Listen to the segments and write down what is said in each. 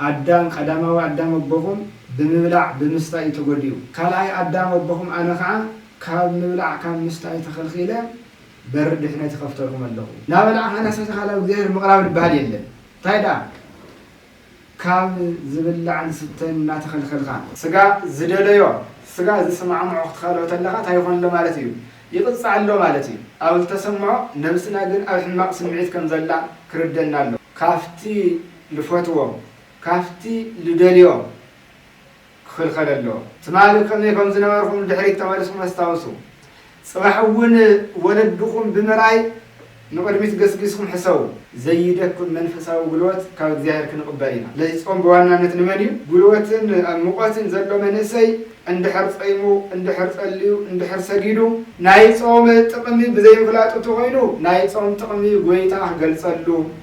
ኣዳም ቀዳማዊ ኣዳም ኣቦኹም ብምብላዕ ብምስታይ እዩ ተጎዲኡ። ካልኣይ ኣዳም ኣቦኹም ኣነ ከኣ ካብ ምብላዕ ካብ ምስታይ ተኸልኺለ በሪ ድሕነት ይኸፍተልኩም ኣለኹ። ናበላዕካ ራስሕሰ ካል ኣብ እግዚኣብሔር ምቕራብ ልበሃል የለን እንታይ ደኣ ካብ ዝብላዕን ዝስተን እናተኸልኸልካ። ስጋ ዝደለዮ ስጋ ዝስማዕምዖ ክትኸልኦ ተለኻ እንታይ ይኾን ኣሎ ማለት እዩ ይቕጻዕ ኣሎ ማለት እዩ። ኣብ ዝተሰምዖ ነብስና ግን ኣብ ሕማቕ ስምዒት ከም ዘላ ክርደና ኣለዎ። ካብቲ ልፈትዎ ካብቲ ልደልዮ ክኽልኸለ ኣለዎ። ትማሊ ከመይ ከም ዝነበርኩም ንድሕሪት ተመሊስኩም ኣስታውሱ። ጽባሕ እውን ወለድኹም ብምርኣይ ንቕድሚት ገስጊስኩም ሕሰቡ። ዘይደክም መንፈሳዊ ጉልበት ካብ እግዚኣብሔር ክንቕበል ኢና። ስለዚ ጾም ብዋናነት ንመን እዩ? ጉልበትን ኣብ ሙቐትን ዘሎ መንእሰይ እንድሕር ጸይሙ፣ እንድሕር ጸልዩ፣ እንድሕር ሰጊዱ፣ ናይ ጾም ጥቕሚ ብዘይምፍላጡ እንተኾይኑ ናይ ጾም ጥቕሚ ጎይታ ክገልጸሉ፣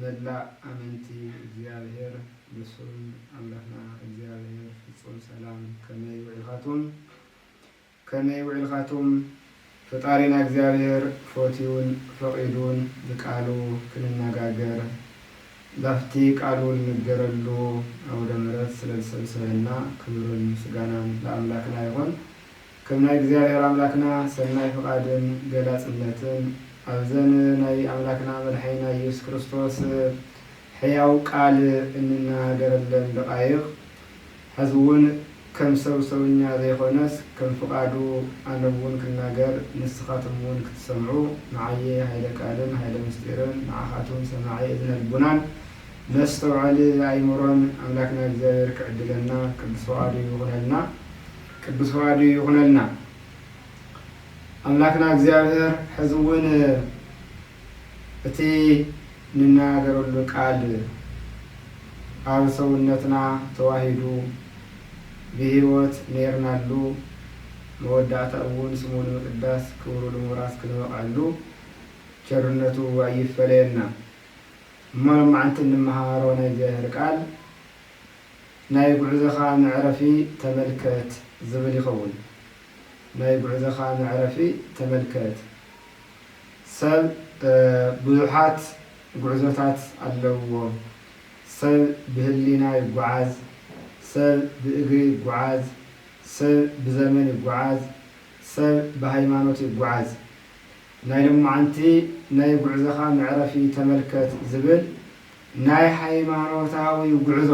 መላእ ኣመንቲ እግዚኣብሔር ንሱን ኣምላኽና እግዚኣብሔር ፍጹም ሰላም ከመይ ውዒልኻቱም ከመይ ውዒልኻቱም ፍጣሪና እግዚኣብሔር ፎትዩን ፈቂዱን ብቃሉ ክንነጋገር ላፍቲ ቃሉ ልንገረሉ ኣውደምረት ስለዝሰብሰበና ክብርን ምስጋናን ልኣምላክና ይኹን ከም ናይ እግዚኣብሔር ኣምላክና ሰናይ ፍቃድን ገላጽነትን ኣብዘን ናይ ኣምላክና መድሓኒና ኢየሱስ ክርስቶስ ሕያው ቃል እንናገረለን ደቃይቅ ሐዚ እውን ከም ሰብ ሰውኛ ዘይኮነስ ከም ፍቃዱ ኣነውን ክናገር ንስካትም እውን ክትሰምዑ ንዓየ ሃይለ ቃልን ሃይለ ምስጢርን ንዓካትም ሰማዒ እዝነ ልቡናን መስተውዐሊ ኣይምሮን ኣምላክና እግዚኣብሔር ክዕድለና ቅዱስ ፍቃዱ ይኩነልና። ቅዱስ ፍቓዱ ይኹነልና ኣምላክና እግዚኣብሔር ሕዚ እውን እቲ ንናገረሉ ቃል ኣብ ሰውነትና ተዋሂዱ ብሕይወት ነይርናሉ መወዳእታ እውን ስሙ ንምቅዳስ ክብሩ ልምውራስ ክንበቕዐሉ ቸርነቱ ኣይፈለየና እሞ ሎማዕንቲ እንመሃሮ ናይ እግዚኣብሔር ቃል ናይ ጉዕዞኻ መዕረፊ ተመልከት ዝብል ይኸውን። ናይ ጉዕዞኻ መዕረፊ ተመልከት። ሰብ ብዙሓት ጉዕዞታት ኣለዉዎ። ሰብ ብህሊና ይጉዓዝ፣ ሰብ ብእግሪ ይጉዓዝ፣ ሰብ ብዘመን ይጉዓዝ፣ ሰብ ብሃይማኖት ይጉዓዝ። ናይ ሎማዓንቲ ናይ ጉዕዞኻ መዕረፊ ተመልከት ዝብል፣ ናይ ሃይማኖታዊ ጉዕዞ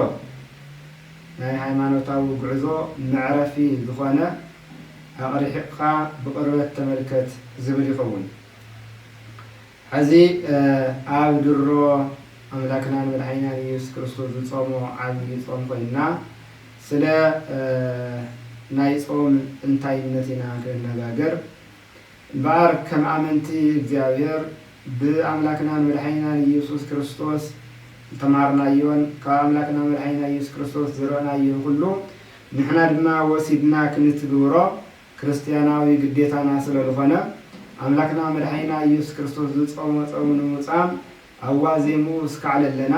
ናይ ሃይማኖታዊ ጉዕዞ መዕረፊ ዝኾነ ኣቕሪሒቕካ ብቕርበት ተመልከት ዝብል ይኸውን። ሐዚ ኣብ ድሮ ኣምላክናን መድሓኒናን ኢየሱስ ክርስቶስ ዝጾሞ ዓቢይ ጾም ኮይንና ስለ ናይ ጾም እንታይነት ኢና ክንነጋገር። እምበኣር ከም ኣመንቲ እግዚኣብሔር ብኣምላክናን መድሓኒናን ኢየሱስ ክርስቶስ ዝተማሃርናዮን ካብ ኣምላክና መድሓኒና ኢየሱስ ክርስቶስ ዝረእናዮን ኩሉ ንሕና ድማ ወሲድና ክንትግብሮ ክርስትያናዊ ግዴታና ስለልኾነ ኣምላክና መድሓኒና ኢየሱስ ክርስቶስ ዝጾሞ ጾም ንምጻም ኣብ ዋዜምኡ እስካዕ ለለና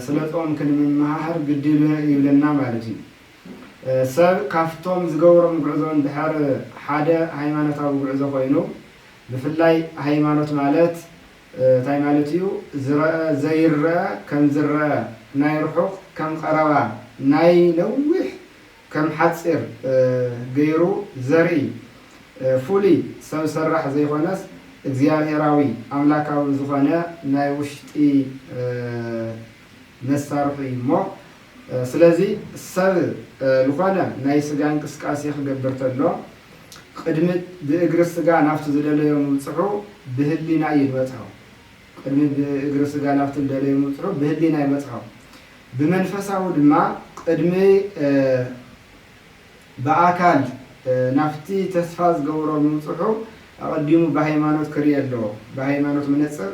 ስለ ጾም ክንምመሃር ግዲ ይብለና ማለት እዩ። ሰብ ካብቶም ዝገብሮም ጉዕዞ እንድሕር ሓደ ሃይማኖታዊ ጉዕዞ ኮይኑ ብፍላይ ሃይማኖት ማለት ታይ ማለት እዩ ዝረኣ ዘይረኣ ከም ዝረኣ ናይ ርሑቅ ከም ቀረባ ናይ ነዊሕ ከም ሓፂር ገይሩ ዘርኢ ፉሉይ ሰብ ሰራሕ ዘይኮነስ እግዚኣብሄራዊ ኣምላካዊ ዝኮነ ናይ ውሽጢ መሳርሑ እዩ እሞ ስለዚ ሰብ ልኾነ ናይ ስጋ እንቅስቃሴ ክገብር ተሎ ቕድሚ ብእግሪ ስጋ ናብቲ ዝደለዮ ምብጽሑ ብህሊና እዩ ድበጽሖ። ቕድሚ ብእግሪ ስጋ ናብቲ ዝደለዮ ምብጽሑ ብህሊና ይበጽሖ። ብመንፈሳዊ ድማ ቕድሚ ብኣካል ናብቲ ተስፋ ዝገበሮ ምብጽሑ ኣቐዲሙ ብሃይማኖት ክርኤ ኣለዎ። ብሃይማኖት መነጽር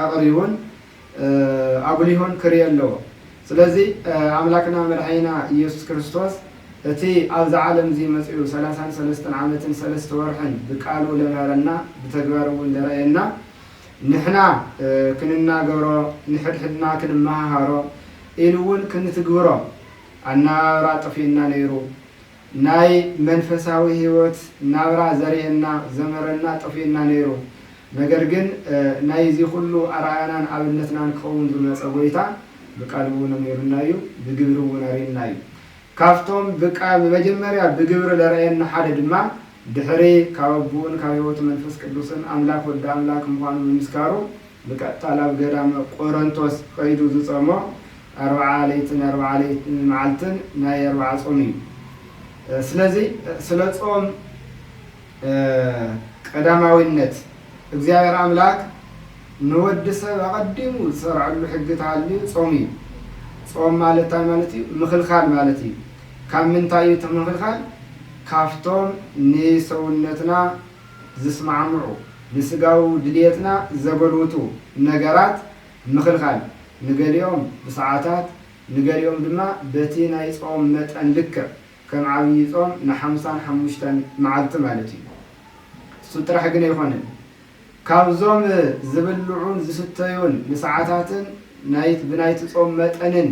ኣቕሪቡን ኣጉሊሁን ክርኤ ኣለዎ። ስለዚ ኣምላክና መድሓኒና ኢየሱስ ክርስቶስ እቲ ኣብዚ ዓለምዚ መጺኡ ሰላሳን ሰለስተን ዓመትን ሰለስተ ወርሕን ብቃሉ ለምሃረና ብተግባርውን ለርኣየና ንሕና ክንናገሮ ንሕድሕድና ክንመሃሃሮ ኢሉውን ክንትግብሮ ኣነባብራ ጠፊኡና ነይሩ ናይ መንፈሳዊ ሂወት ናብራ ዘርእየና ዘምህረና ጠፊኡና ነይሩ ነገር ግን ናይ እዚ ኩሉ ኣርኣያናን ኣብነትናን ክኸውን ዝመጸ ጎይታ ብቃሉ እውን ኣሚሩና እዩ ብግብሪ እውን ኣርዩና እዩ ካብቶም ብቃ ብመጀመርያ ብግብሪ ለረኣየና ሓደ ድማ ድሕሪ ካብ ኣቡኡን ካብ ሕይወት መንፈስ ቅዱስን ኣምላክ ወዲ ኣምላክ ምዃኑ ምምስካሩ ብቀጥታ ናብ ገዳመ ቆረንቶስ ኸይዱ ዝጾሞ ኣርብዓ ለይትን ኣርብዓ መዓልትን ናይ ኣርብዓ ጾም እዩ። ስለዚ ስለ ጾም ቀዳማዊነት እግዚኣብሔር ኣምላክ ንወዲ ሰብ ኣቀዲሙ ዝሰርዐሉ ሕጊ ተሃልዩ ጾም እዩ። ጾም ማለት እንታይ ማለት እዩ? ምኽልካል ማለት እዩ። ካብ ምንታይ እዩ እቲ ምክልካል? ካብቶም ንሰውነትና ዝስማዕምዑ፣ ንስጋዊ ድልየትና ዘጎልብቱ ነገራት ምክልካል። ንገሊኦም ብሰዓታት፣ ንገሊኦም ድማ በቲ ናይ ጾም መጠን ልክዕ፣ ከም ዓብዪ ጾም ንሓምሳን ሓሙሽተን መዓልቲ ማለት እዩ። እሱ ጥራሕ ግን ኣይኮነን። ካብዞም ዝብልዑን ዝስተዩን ንሰዓታትን ናይት ብናይቲ ጾም መጠንን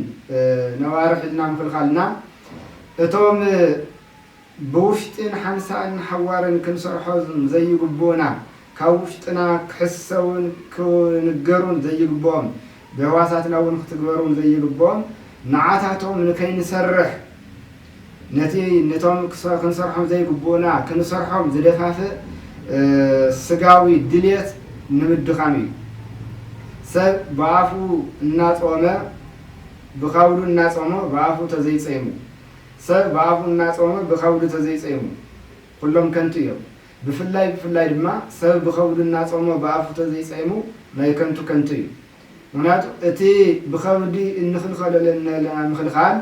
ነዋርሕ ኢልና ምክልካልና እቶም ብውሽጢን ሓንሳእን ሓዋርን ክንሰርሖም ዘይግቡኡና ካብ ውሽጥና ክሕሰውን ክንገሩን ዘይግብኦም ብህዋሳትና እውን ክትግበሮም ዘይግብኦም ንዓታቶም ንከይንሰርሕ ነቲ ነቶም ክንሰርሖም ዘይግብኡና ክንሰርሖም ዝደፋፍእ ስጋዊ ድልየት ንምድኻም እዩ። ሰብ ብኣፉ እናጾመ ብካውዱ እናጾሞ ብኣፉ ተዘይጸይሙ ሰብ ብኣፉ እናጾመ ብካውዱ ተዘይጸይሙ ኩሎም ከንቱ እዮም። ብፍላይ ብፍላይ ድማ ሰብ ብኸብዱ እናጾሞ ብኣፉ ተዘይጸይሙ ናይ ከንቱ ከንቱ እዩ። ምኽንያቱ እቲ ብኸብዲ እንኽልኸሎ ለናለና ምኽልኻል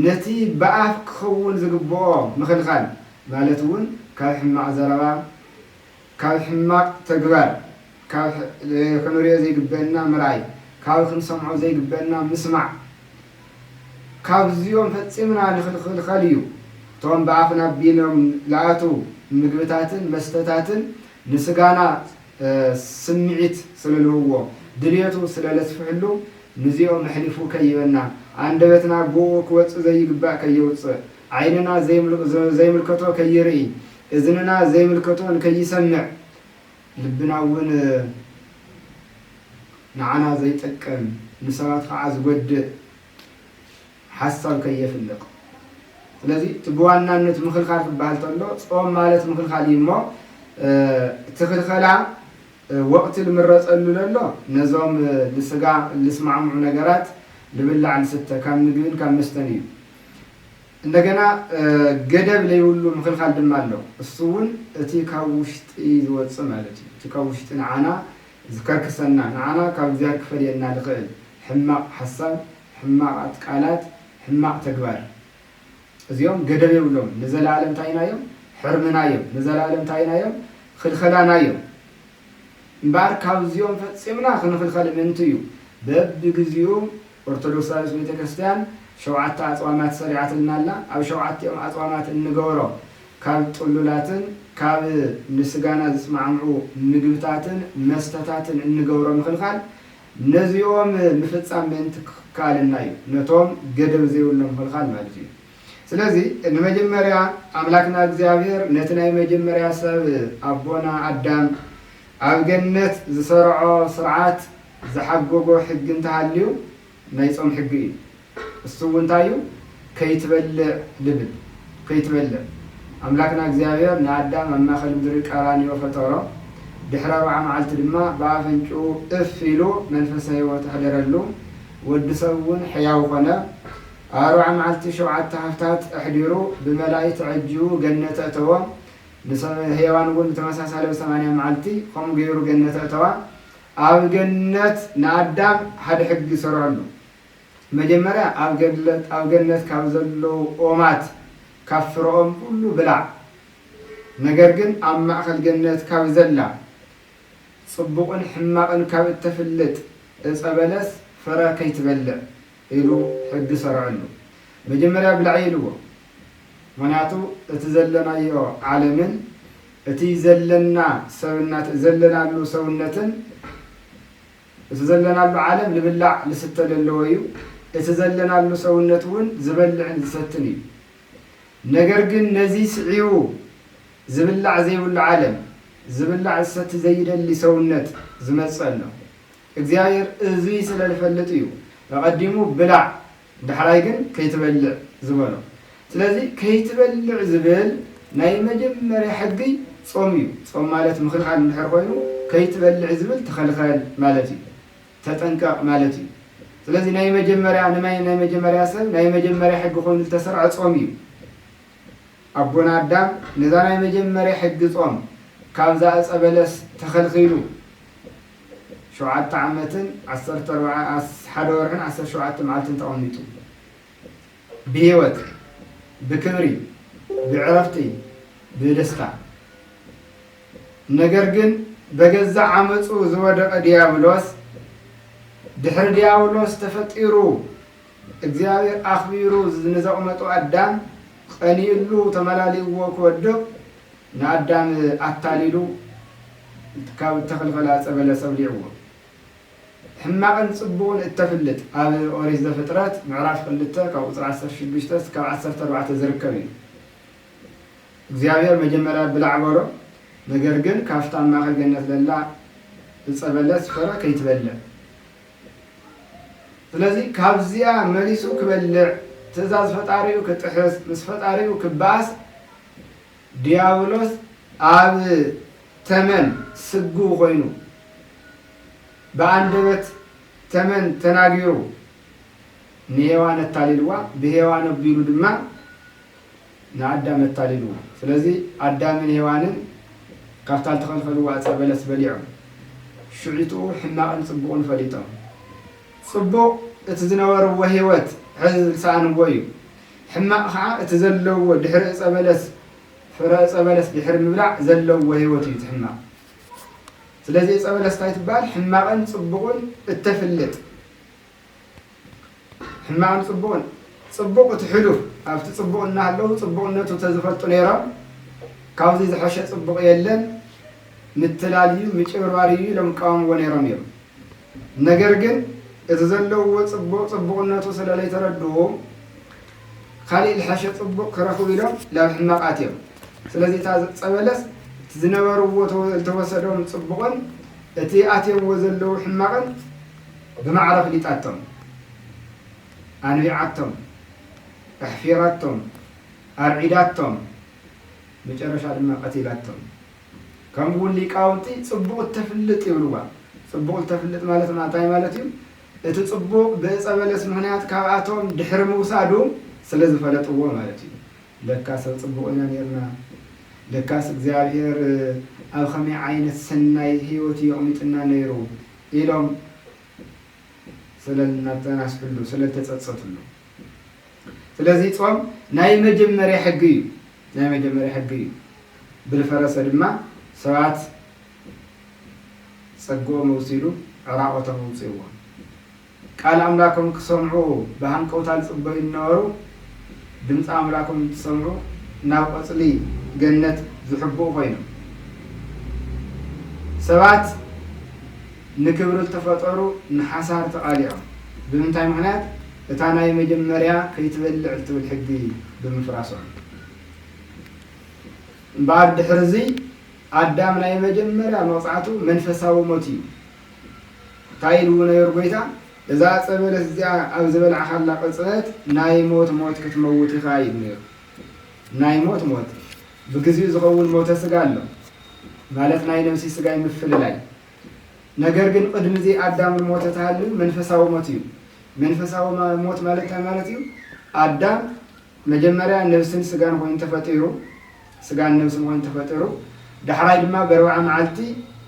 ነቲ ብኣፍ ክኽውን ዝግብኦ ምኽልኻል ማለት እውን ካብ ሕማቕ ዘረባ ካብ ሕማቕ ተግባር ካብ ክንርእዮ ዘይግበእና ምርኣይ፣ ካብ ክንሰምዖ ዘይግበእና ምስማዕ፣ ካብዚኦም ፈጺምና ንክልኸል እዩ። እቶም ብኣፍና ኣቢሎም ልኣትዉ ምግብታትን መስተታትን ንስጋና ስምዒት ስለልህብዎ፣ ድልየቱ ስለለስፍሕሉ፣ ንዚኦም ኣሕሊፉ ከይበና፣ ኣንደበትና ብእኡ ክወጽእ ዘይግባእ ከየውጽእ፣ ዓይንና ዘይምልከቶ ከይርኢ፣ እዝንና ዘይምልከቶ እንከይሰምዕ፣ ልብና እውን ንዓና ዘይጠቅም ንሰባት ከዓ ዝጎድእ ሓሳብ ከየፍልቅ ስለዚ እቲ ብዋናነት ምክልካል ክበሃል ተሎ ፆም ማለት ምክልካል እዩ እሞ እቲ ክልከላ ወቅቲ ልምረፀሉ ለሎ ነዞም ልስጋ ልስማዕምዑ ነገራት ልብላዕ ልስተ ካብ ምግብን ካብ መስተን እዩ እንደገና ገደብ ለይብሉ ምክልካል ድማ ኣሎ። እሱ እውን እቲ ካብ ውሽጢ ዝወጽእ ማለት እዩ። እቲ ካብ ውሽጢ ንዓና ዝከርክሰና፣ ንዓና ካብ እግዚኣብሔር ክፈልየና ልክእል ሕማቅ ሓሳብ፣ ሕማቃት ቃላት፣ ሕማቅ ተግባር። እዚኦም ገደብ የብሎምን። ንዘለዓለም እንታይ ኢና እዮም? ሕርምና እዮም። ንዘለዓለም እንታይ ኢና እዮም? ክልከላና እዮም። እምበኣር ካብዚኦም ፈጺምና ክንክልከል ምእንቲ እዩ በብግዚኡ፣ ኦርቶዶክሳዊት ቤተ ክርስቲያን ሸውዓተ ኣጽዋማት ሰሪዓትልና ኣላ። ኣብ ሸውዓቲኦም ኣጽዋማት እንገበሮ ካብ ጥሉላትን ካብ ንስጋና ዝስማዕምዑ ምግብታትን መስተታትን እንገብሮ ምኽልኻል ነዚኦም ምፍጻም ምእንቲ ክካልና እዩ። ነቶም ገደብ ዘይብሎም ምኽልኻል ማለት እዩ። ስለዚ ንመጀመርያ ኣምላክና እግዚኣብሔር ነቲ ናይ መጀመርያ ሰብ ኣቦና ኣዳም ኣብ ገነት ዝሰርዖ ስርዓት ዝሓጎጎ ሕጊ እንተሃልዩ ናይ ጾም ሕጊ እዩ እሱ እውን እንታይ እዩ ከይትበልዕ ልብል ከይትበልዕ ኣምላክና እግዚኣብሔር ንኣዳም ኣብ ማእከል ምድሪ ቀራንዮ ፈጠሮ ድሕሪ ኣርብዓ መዓልቲ ድማ ብኣፍንጭኡ እፍ ኢሉ መንፈሰ ሕይወት ኣሕደረሉ ወዲ ሰብ እውን ሕያው ኮነ ኣርብዓ መዓልቲ ሸውዓተ ሃፍታት ኣሕዲሩ ብመላኢ ተዐጂቡ ገነት ኣእተዎ ንሰብ ሔዋን እውን ብተመሳሳሊ ኣብ ሰማንያ መዓልቲ ከምኡ ገይሩ ገነት ኣእተዋ ኣብ ገነት ንኣዳም ሓደ ሕጊ ሰርዐሉ። መጀመርያ ኣብ ገለት ኣብ ገነት ካብ ዘለዉ ኦማት ካብ ፍረኦም ኩሉ ብላዕ። ነገር ግን ኣብ ማእከል ገነት ካብ ዘላ ጽቡቕን ሕማቕን ካብ እተፍልጥ ዕጸ በለስ ፍረ ከይትበልዕ ኢሉ ሕጊ ሰርዐሉ። መጀመርያ ብላዒ ኢልዎ። ምክንያቱ እቲ ዘለናዮ ዓለምን፣ እቲ ዘለና ሰብነት ዘለናሉ ሰውነትን እቲ ዘለናሉ ዓለም ልብላዕ ልስተ ለለዎ እዩ። እቲ ዘለናሉ ሰውነት እውን ዝበልዕን ዝሰትን እዩ። ነገር ግን ነዚ ስዒቡ ዝብላዕ ዘይብሉ ዓለም፣ ዝብላዕ ዝሰቲ ዘይደሊ ሰውነት ዝመጽእ ኣሎ። እግዚኣብሔር እዙይ ስለ ልፈልጥ እዩ እቐዲሙ ብላዕ ዳሕራይ ግን ከይትበልዕ ዝበሎ ስለዚ ከይትበልዕ ዝብል ናይ መጀመርያ ሕጊ ጾም እዩ ጾም ማለት ምክልካል እንድሕር ኮይኑ ከይትበልዕ ዝብል ተከልከል ማለት እዩ ተጠንቀቅ ማለት እዩ ስለዚ ናይ መጀመርያ ንማይ ናይ መጀመርያ ሰብ ናይ መጀመርያ ሕጊ ኮይኑ ዝተሰርዐ ጾም እዩ ኣቦና ኣዳም ነዛ ናይ መጀመርያ ሕጊ ጾም ካብዛ እጸ በለስ ተከልኪሉ ሸውዓተ ዓመትን ዓሰርተ ኣርባዓ ኣስ ሓደ ወርሕን ዓሰርተ ሸውዓተ መዓልትን ተቐሚጡ ብህይወት ብክብሪ ብዕረፍቲ ብደስታ ነገር ግን በገዛ ዓመፁ ዝወደቐ ዲያብሎስ ድሕሪ ዲያብሎስ ተፈጢሩ እግዚኣብሔር ኣኽቢሩ ንዘቕመጦ ኣዳም ቐኒኡሉ ተመላሊእዎ ክወድቕ ንኣዳም ኣታሊሉ ካብ እተኽልከላ ዕፀ በለስ ኣብሊዕዎ። ሕማቕን ፅቡቕን እተፍልጥ ኣብ ኦሪት ዘፍጥረት ምዕራፍ ክልተ ካብ ቁፅሪ ዓሰርተ ሽዱሽተ እስካብ ዓሰርተ ኣርባዕተ ዝርከብ እዩ። እግዚኣብሔር መጀመርያ ብላዕ በሎ ነገር ግን ካብታ ኣብ ማእኸል ገነት ለላ ዕፀ በለስ ፈረ ከይትበልዕ ስለዚ ካብዚኣ መሊሱ ክበልዕ ትእዛዝ ፈጣሪኡ ክጥሕስ ምስ ፈጣሪኡ ክበኣስ ድያብሎስ ኣብ ተመን ስግው ኮይኑ ብኣንደበት ተመን ተናጊሩ ንሄዋን ኣታሊልዋ፣ ብሄዋን ኣቢሉ ድማ ንኣዳም ኣታሊልዎ። ስለዚ ኣዳምን ሄዋንን ካብታ ዝተኸልከልዎ ዕፀ በለስ በሊዖም ሽዒጡ ሕማቕን ፅቡቕን ፈሊጦም ፅቡቕ እቲ ዝነበርዎ ህይወት ሕዚ ዝሰኣንዎ እዩ። ሕማቕ ኸኣ እቲ ዘለዎ ድሕሪ ዕጸ በለስ ፍረ ዕጸ በለስ ድሕሪ ምብላዕ ዘለዎ ህይወት እዩ እቲ ሕማቕ ስለዚ ዕጸ በለስ እንታይ ትበሃል ሕማቕን ጽቡቕን እተፍልጥ ሕማቕን ጽቡቕን ጽቡቕ እቲ ሕሉፍ ኣብቲ ጽቡቕ እናሃለዉ ጽቡቕነቱ ተዝፈልጡ ነይሮም ካብዚ ዝሐሸ ጽቡቕ የለን ምትላል እዩ ምጭብርባር እዩ ኢሎም ይቃወምዎ ነይሮም እዮም ነገር ግን እቲ ዘለውዎ ጽቡቕ ጽቡቕነቱ ስለ ለይተረድኡ ካሊእ ልሐሸ ጽቡቕ ክረኽቡ ኢሎም ላብ ሕማቕ ኣትዮም ስለዚ እታ ጸበለስ እቲ ዝነበርዎ ልተወሰዶም ጽቡቕን እቲ ኣትዮምዎ ዘለዉ ሕማቕን ብማዕረ ፍሊጣቶም ኣንቢዓቶም ኣሕፊራቶም ኣርዒዳቶም መጨረሻ ድማ ቀቲላቶም። ከምኡ ውን ሊቃውንቲ ጽቡቕ እተፍልጥ ይብልዋ። ጽቡቕ እተፍልጥ ማለት እንታይ ማለት እዩ? እቲ ጽቡቕ ብእጸ በለስ ምኽንያት ካብኣቶም ድሕሪ ምውሳዱ ስለ ዝፈለጥዎ ማለት እዩ። ለካ ሰብ ጽቡቕ ኢና ኔርና! ለካስ እግዚኣብሄር ኣብ ኸመይ ዓይነት ሰናይ ህይወት እዩ ኣቕሚጥና ነይሩ! ኢሎም ስለ ልናተናስሕሉ፣ ስለ ልተጸጸትሉ። ስለዚ ጾም ናይ መጀመርያ ሕጊ እዩ። ናይ መጀመርያ ሕጊ እዩ። ብልፈረሰ ድማ ሰባት ጸግኦም ኣውሲዱ ዕራቆቶም ኣውጺእዎም። ቃል ኣምላኮም ክሰምዑ ብሃንቀውታ ዝጽበዩ ዝነበሩ ድምጺ ኣምላኮም እንትሰምዑ ናብ ቆጽሊ ገነት ዝሕብኡ ኮይኖም። ሰባት ንክብሪ ዝተፈጠሩ ንሓሳር ተቃሊዖም። ብምንታይ ምክንያት? እታ ናይ መጀመርያ ከይትበልዕ እትብል ሕጊ ብምፍራሶም እምበኣር ድሕሪ እዚ ኣዳም ናይ መጀመርያ መቕጻዕቱ መንፈሳዊ ሞት እዩ። እንታይ ኢልዎ ነይሩ ጎይታ? እዛ ዕጸ በለስ እዚኣ ኣብ ዝበላዕካላ ቅጽበት ናይ ሞት ሞት ክትመውት ኢኻ ኢሉ ነይሩ። ናይ ሞት ሞት ብግዚኡ ዝኸውን ሞተ ስጋ ኣሎ ማለት ናይ ነብሲ ስጋይ ምፍልላይ ነገር ግን ቕድሚ እዚ ኣዳም ልሞተ ተሃልዩ መንፈሳዊ ሞት እዩ። መንፈሳዊ ሞት ማለት እንታይ ማለት እዩ? ኣዳም መጀመርያ ነብስን ስጋን ኾይኑ ተፈጢሩ፣ ስጋን ነብስን ኾይኑ ተፈጥሩ፣ ዳሕራይ ድማ በርብዓ መዓልቲ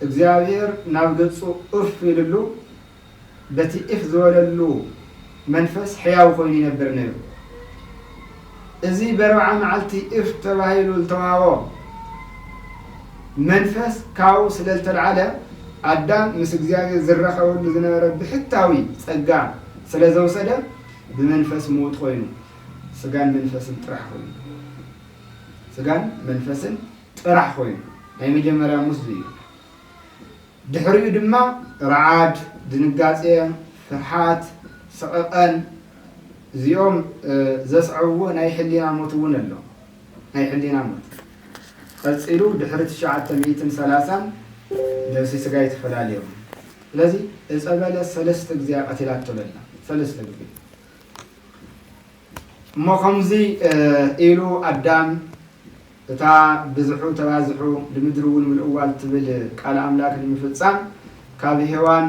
እግዚኣብሔር ናብ ገጹ እፍ ኢልሉ፣ በቲ ኢኽ ዝበለሉ መንፈስ ሕያው ኮይኑ ይነብር ነይሩ። እዚ በርብዓ መዓልቲ ኢኽ ተባሂሉ ዝተዋህቦ መንፈስ ካብኡ ስለ ዝተልዓለ፣ ኣዳም ምስ እግዚኣብሔር ዝራኸበሉ ዝነበረ ብሕታዊ ጸጋ ስለ ዘውሰደ፣ ብመንፈስ ምዉት ኮይኑ፣ ስጋን መንፈስን ጥራሕ ኮይኑ። ስጋን መንፈስን ጥራሕ ኮይኑ። ናይ መጀመርያ ሙስ ዝዩ። ድሕሪኡ ድማ ርዓድ፣ ድንጋጼ፣ ፍርሓት፣ ሰቐቐን እዚኦም ዘስዐብዎ ናይ ሕሊና ሞት እውን ኣሎ። ናይ ሕሊና ሞት። ቀጺሉ ድሕሪ ትሽዓተ ሚእትን ሰላሳን ነብሲ ስጋይ ተፈላልዮም። ስለዚ እጸ በለስ ሰለስተ ግዜ እያ ቀቲላቶ ዘላ። ሰለስተ ግዜ። እሞ ከምዚ ኢሉ ኣዳም። እታ ብዝሑ ተባዝሑ ልምድርውን ምልእዋ ልትብል ቃል ኣምላክ ንምፍጻም ካብ ሄዋን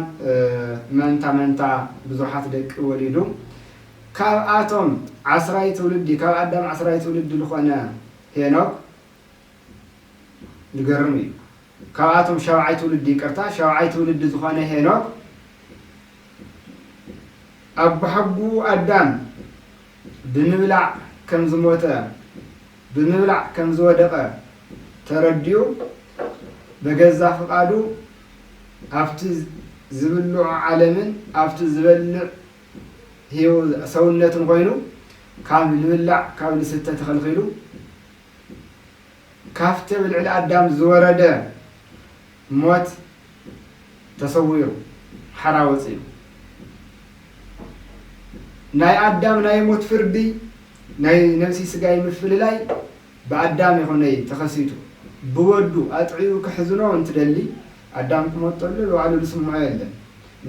መንታ መንታ ብዙሓት ደቂ ወሊዱ። ካብኣቶም ዓስራይ ትውልዲ ካብ ኣዳም ዓስራይ ትውልዲ ልኾነ ሄኖክ ልገርም እዩ። ካብኣቶም ሻብዓይ ትውልዲ ይቅርታ ሻብዓይ ትውልዲ ዝኾነ ሄኖክ ኣቦሓጉኡ ኣዳም ብምብላዕ ከም ዝሞተ፣ ብምብላዕ ከም ዝወደቐ ተረዲኡ በገዛ ፍቓዱ ኣብቲ ዝብልዖ ዓለምን ኣብቲ ዝበልዕ ሰውነትን ኮይኑ ካብ ልብላዕ ካብ ልስተ ተኸልኺሉ ካፍቲ ኣብ ልዕሊ ኣዳም ዝወረደ ሞት ተሰዊሩ ሓራ ወጺኡ። ናይ ኣዳም ናይ ሞት ፍርዲ ናይ ነብሲ ስጋይ ምፍልላይ ብኣዳም ይኹነይ ተኸሲቱ። ብወዱ ኣጥዕዩ ከሕዝኖ እንትደሊ ኣዳም ክሞት ተሎ ባዕሉ ዝስምዖ የለን።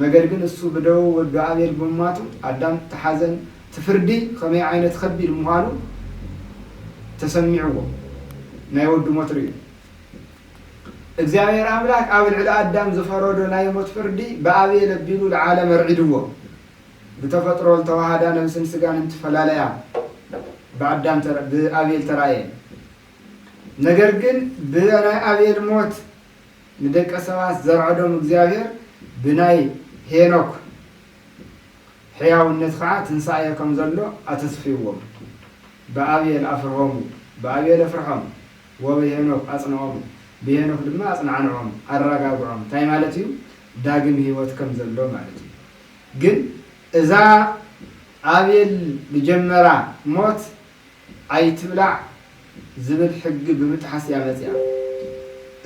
ነገር ግን እሱ ብደዉ ወዱ ኣቤል ብምሟቱ ኣዳም እቲ ሓዘን እቲ ፍርዲ ከመይ ዓይነት ከቢድ ምዃኑ ተሰሚዕዎ ናይ ወዱ ሞት ርእዩ። እግዚኣብሔር ኣምላክ ኣብ ልዕሊ ኣዳም ዝፈረዶ ናይ ሞት ፍርዲ ብኣቤል ኣቢሉ ልዓለም ኣርዒድዎ። ብተፈጥሮ ልተወሃዳ ነብስን ስጋን እንትፈላለያ ብኣዳም ብኣቤል ተራእየን። ነገር ግን ብናይ ኣቤል ሞት ንደቀ ሰባት ዘርዐዶም እግዚኣብሔር ብናይ ሄኖክ ሕያውነት ከዓ ትንሳኤ ከምዘሎ ኣተስፊዎም። ብኣቤል ኣፍርሆሙ ብኣቤል ኣፍርሖም። ወብሄኖክ ኣጽንዖም፣ ብሄኖክ ድማ ኣጽናዕንዖም፣ ኣራጋግዖም፣ እንታይ ማለት እዩ? ዳግም ህይወት ከም ዘሎ ማለት እዩ። ግን እዛ ኣቤል ዝጀመራ ሞት ኣይትብላዕ ዝብል ሕጊ ብምጥሓስ እያ መጺኣ።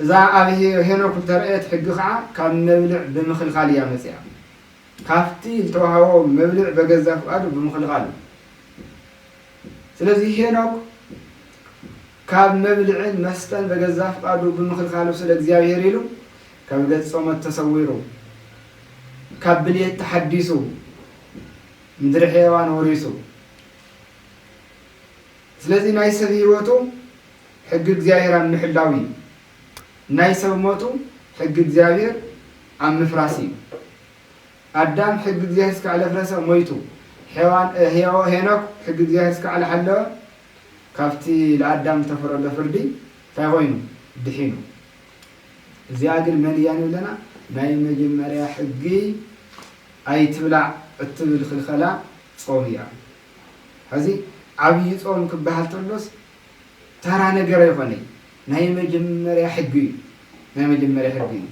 እዛ ኣብ ሄኖክ ዝተረእየት ሕጊ ከኣ ካብ መብልዕ ብምኽልካል እያ መጺኣ። ካብቲ ዝተዋህቦ መብልዕ በገዛ ፍቃዱ ብምኽልካሉ። ስለዚ ሄኖክ ካብ መብልዕን መስተን በገዛ ፍቃዱ ብምኽልካሉ ስለ እግዚኣብሔር ኢሉ ካብ ገጽ ጾመት ተሰዊሩ ካብ ብልየት ተሓዲሱ ምድሪ ሕየዋን ወሪሱ ስለዚ ናይ ሰብ ሕይወቱ ሕጊ እግዚኣብሔር ኣብ ምሕላው እዩ ናይ ሰብ ሞቱ ሕጊ እግዚኣብሔር ኣብ ምፍራስ እዩ ኣዳም ሕጊ እግዚኣብሔር እስካዕለ ኣፍረሰ ሞይቱ ሔዋን ህያዎ ሄኖክ ሕጊ እግዚኣብሔር እስካዕለ ሓለወ ካብቲ ልኣዳም ዝተፈረዶ ፍርዲ ታይ ኾይኑ ድሒኑ እዚኣ ግን መን እያ ንብለና ናይ መጀመርያ ሕጊ ኣይትብላዕ እትብል ክልኸላ ጾም እያ ሐዚ ዓብይ ጾም ክበሃል ተሎስ ተራ ነገር ኣይኾነይ ናይ መጀመርያ ሕጊ እዩ ናይ መጀመርያ ሕጊ እዩ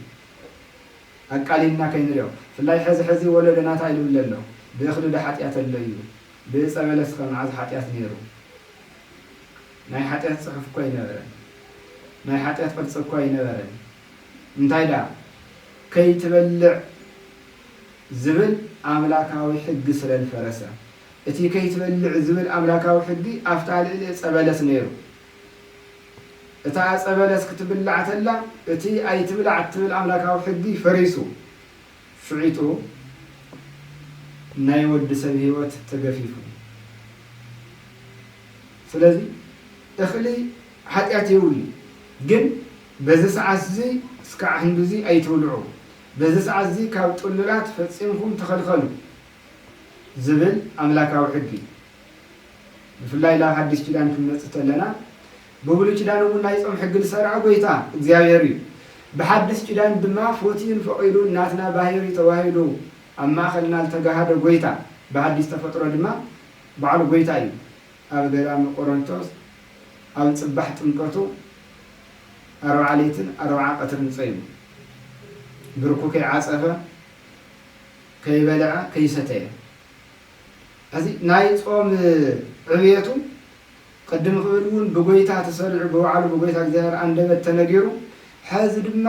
ኣቃሊልና ከይንሪኦ ብፍላይ ሐዚ ሐዚ ወለዶና ታይ ልብል ኣሎ ብእኽሊ ዶ ሓጥያት ኣሎ እዩ ብእፀበለስኸ መዓዝ ሓጥያት ነይሩ ናይ ሓጥያት ፅሑፍ እኮ ኣይነበረን ናይ ሓጥያት ቅርፂ እኮ ኣይነበረን እንታይ ድኣ ከይትበልዕ ዝብል ኣምላካዊ ሕጊ ስለልፈረሰ እቲ ከይትበልዕ ዝብል ኣምላካዊ ሕጊ ኣፍታ ልእሊ እፀበለስ ነይሩ እታ ዕጸ በለስ ክትብላዕ ተላ እቲ ኣይትብላዕ እትብል ኣምላካዊ ሕጊ ፈሪሱ ፍዒጡ ናይ ወዲ ሰብ ሂወት ተገፊፉ ስለዚ እክሊ ሓጥያት የውሊ ግን በዚ ሰዓት እዚ እስካዕ ህንዱዚ ኣይትብልዑ በዚ ሰዓት እዚ ካብ ጥሉላት ፈጺምኩም ተከልከሉ ዝብል ኣምላካዊ ሕጊ ብፍላይ ናብ ሓዲሽ ኪዳን ክንመጽእ ተለና ብብሉይ ኪዳን እውን ናይ ጾም ሕጊ ዝሰረዐ ጎይታ እግዚኣብሔር እዩ። ብሓዲስ ኪዳን ድማ ፎትዩን ፈቂዱን ናትና ባህሪ ተዋሂዱ ኣብ ማእኸልና ልተጋሃደ ጎይታ ብሓዲስ ተፈጥሮ ድማ ባዕሉ ጎይታ እዩ። ኣብ ገዳመ ቆሮንቶስ ኣብ ጽባሕ ጥምቀቱ ኣርብዓ ሌትን ኣርብዓ ቀትርን ጾይሙ ብርኩ ከይዓጸፈ ከይበልዐ ከይሰተየ እዚ ናይ ጾም ዕብየቱ ቅድም ክብል እውን ብጐይታ ተሰሪዑ ብባዕሉ ብጐይታ እግዚኣብሔር ኣንደበት ተነጊሩ ሐዚ ድማ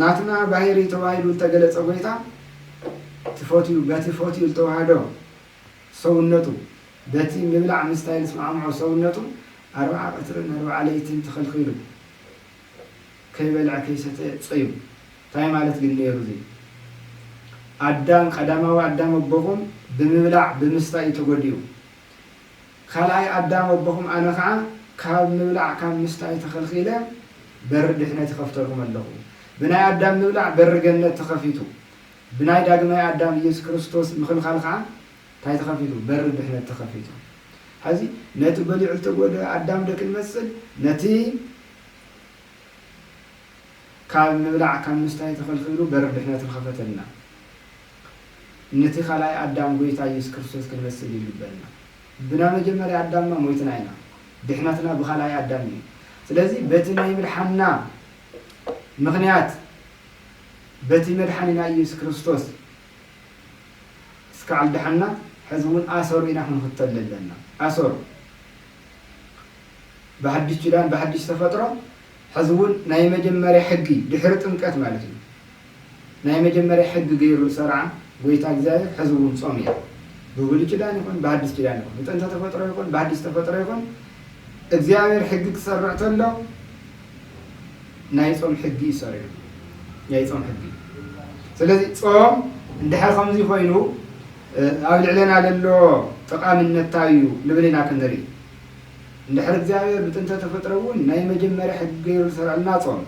ናትና ባህሪ ተባሂሉ ዝተገለጸ ጐይታ ትፈትዩ በቲ ፈትዩ ዝተዋህዶ ሰውነቱ በቲ ምብላዕ ምስታይ ዝስማዕምዖ ሰውነቱ ኣርብዓ ቀትርን ኣርብዓ ለይትን ተኸልኪሉ ከይበልዐ ከይሰተየ ጸዩም ታይ ማለት ግን ነይሩ እዚ ኣዳም ቀዳማዊ ኣዳም ኣቦኹም ብምብላዕ ብምስታይ እዩ ተጎዲኡ ካልኣይ ኣዳም ኣቦኹም ኣነ ኸዓ ካብ ምብላዕ ካብ ምስታይ ተኸልኺለ በሪ ድሕነት ይኸፍተልኩም ኣለኹ ብናይ ኣዳም ምብላዕ በሪ ገነት ተኸፊቱ ብናይ ዳግማይ ኣዳም ኢየሱስ ክርስቶስ ምኽልኻል ኸዓ ታይ ተኸፊቱ በሪ ድሕነት ተኸፊቱ ሐዚ ነቲ በሊዑ ዝተጎድኣ ኣዳም ዶ ክንመስል ነቲ ካብ ምብላዕ ካብ ምስታይ ተኸልኪሉ በሪ ድሕነት ንኸፈተልና ነቲ ካልኣይ ኣዳም ጎይታ ኢየሱስ ክርስቶስ ክንመስል ይልበና ብና መጀመርያ ኣዳምና ሞይትና ኢና ድሕነትና ብካልኣይ ኣዳም እዩ ስለዚ በቲ ናይ ምድሓንና ምኽንያት በቲ መድሓኒና ኢየሱስ ክርስቶስ እስካዕ ድሓንና ሕዚ እውን ኣሰሩ ኢና ክንኽተል ዘለና ኣሰሩ ብሓድሽ ኪዳን ብሓድሽ ተፈጥሮ ሕዚ ውን ናይ መጀመርያ ሕጊ ድሕሪ ጥምቀት ማለት እዩ ናይ መጀመርያ ሕጊ ገይሩ ዝሰርዓ ጎይታ እግዚኣብሔር ሕዚ ውን ጾም እያ ብብሉይ ኪዳን ይኹን ብሓድሽ ኪዳን ይኹን ብጥንተ ተፈጥሮ ይኹን ብሓድሽ ተፈጥሮ ይኹን እግዚኣብሔር ሕጊ ክሰርዕ ተሎ ናይ ጾም ሕጊ እዩ ሰሪዑ ናይ ጾም ሕጊ ስለዚ ጾም እንድሕር ከምዚ ኮይኑ ኣብ ልዕለና ለሎ ጠቃምነት እንታይ እዩ ንብል ኢና ክንርኢ እንድሕር እግዚኣብሔር ብጥንተ ተፈጥሮ እውን ናይ መጀመርያ ሕጊ ገይሩ ዝሰርዐልና ጾም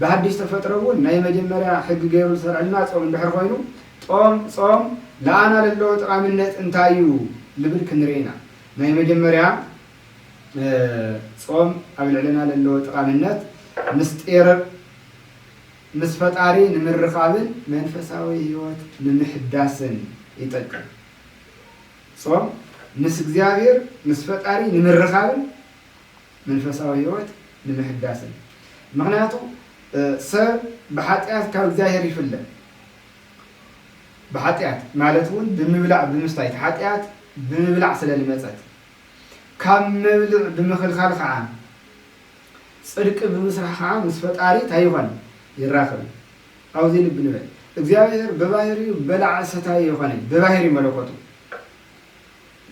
ብሃዲሽ ተፈጥሮ እውን ናይ መጀመርያ ሕጊ ገይሩ ዝሰርዐልና ጾም እንድሕር ኮይኑ ጦም ጾም ለኣና ለለዎ ጠቃምነት እንታይ እዩ ልብል ክንርኢ ኢና ናይ መጀመርያ ጾም ኣብ ልዕልና ለለዎ ጠቃምነት ምስጢር ምስ ፈጣሪ ንምርኻብን መንፈሳዊ ህይወት ንምሕዳስን ይጠቅም። ጾም ምስ እግዚኣብሔር ምስ ፈጣሪ ንምርኻብን መንፈሳዊ ሕይወት ንምሕዳስን ምኽንያቱ ሰብ ብኃጢኣት ካብ እግዚኣብሔር ይፍለ ብኃጢኣት ማለት እውን ብምብላዕ ብምስታይ ኃጢኣት ብምብላዕ ስለ ልመጸት ካብ መብልዕ ብምኽልካል ከዓ ጽድቂ ብምስራሕ ከዓ ምስ ፈጣሪ ታይኾን ይራኽብ ኣብዚ ልቢ ንበል እግዚኣብሔር በባህሪኡ በላዒ ሰታዪ ኣይኮነን በባህሪ መለኮቱ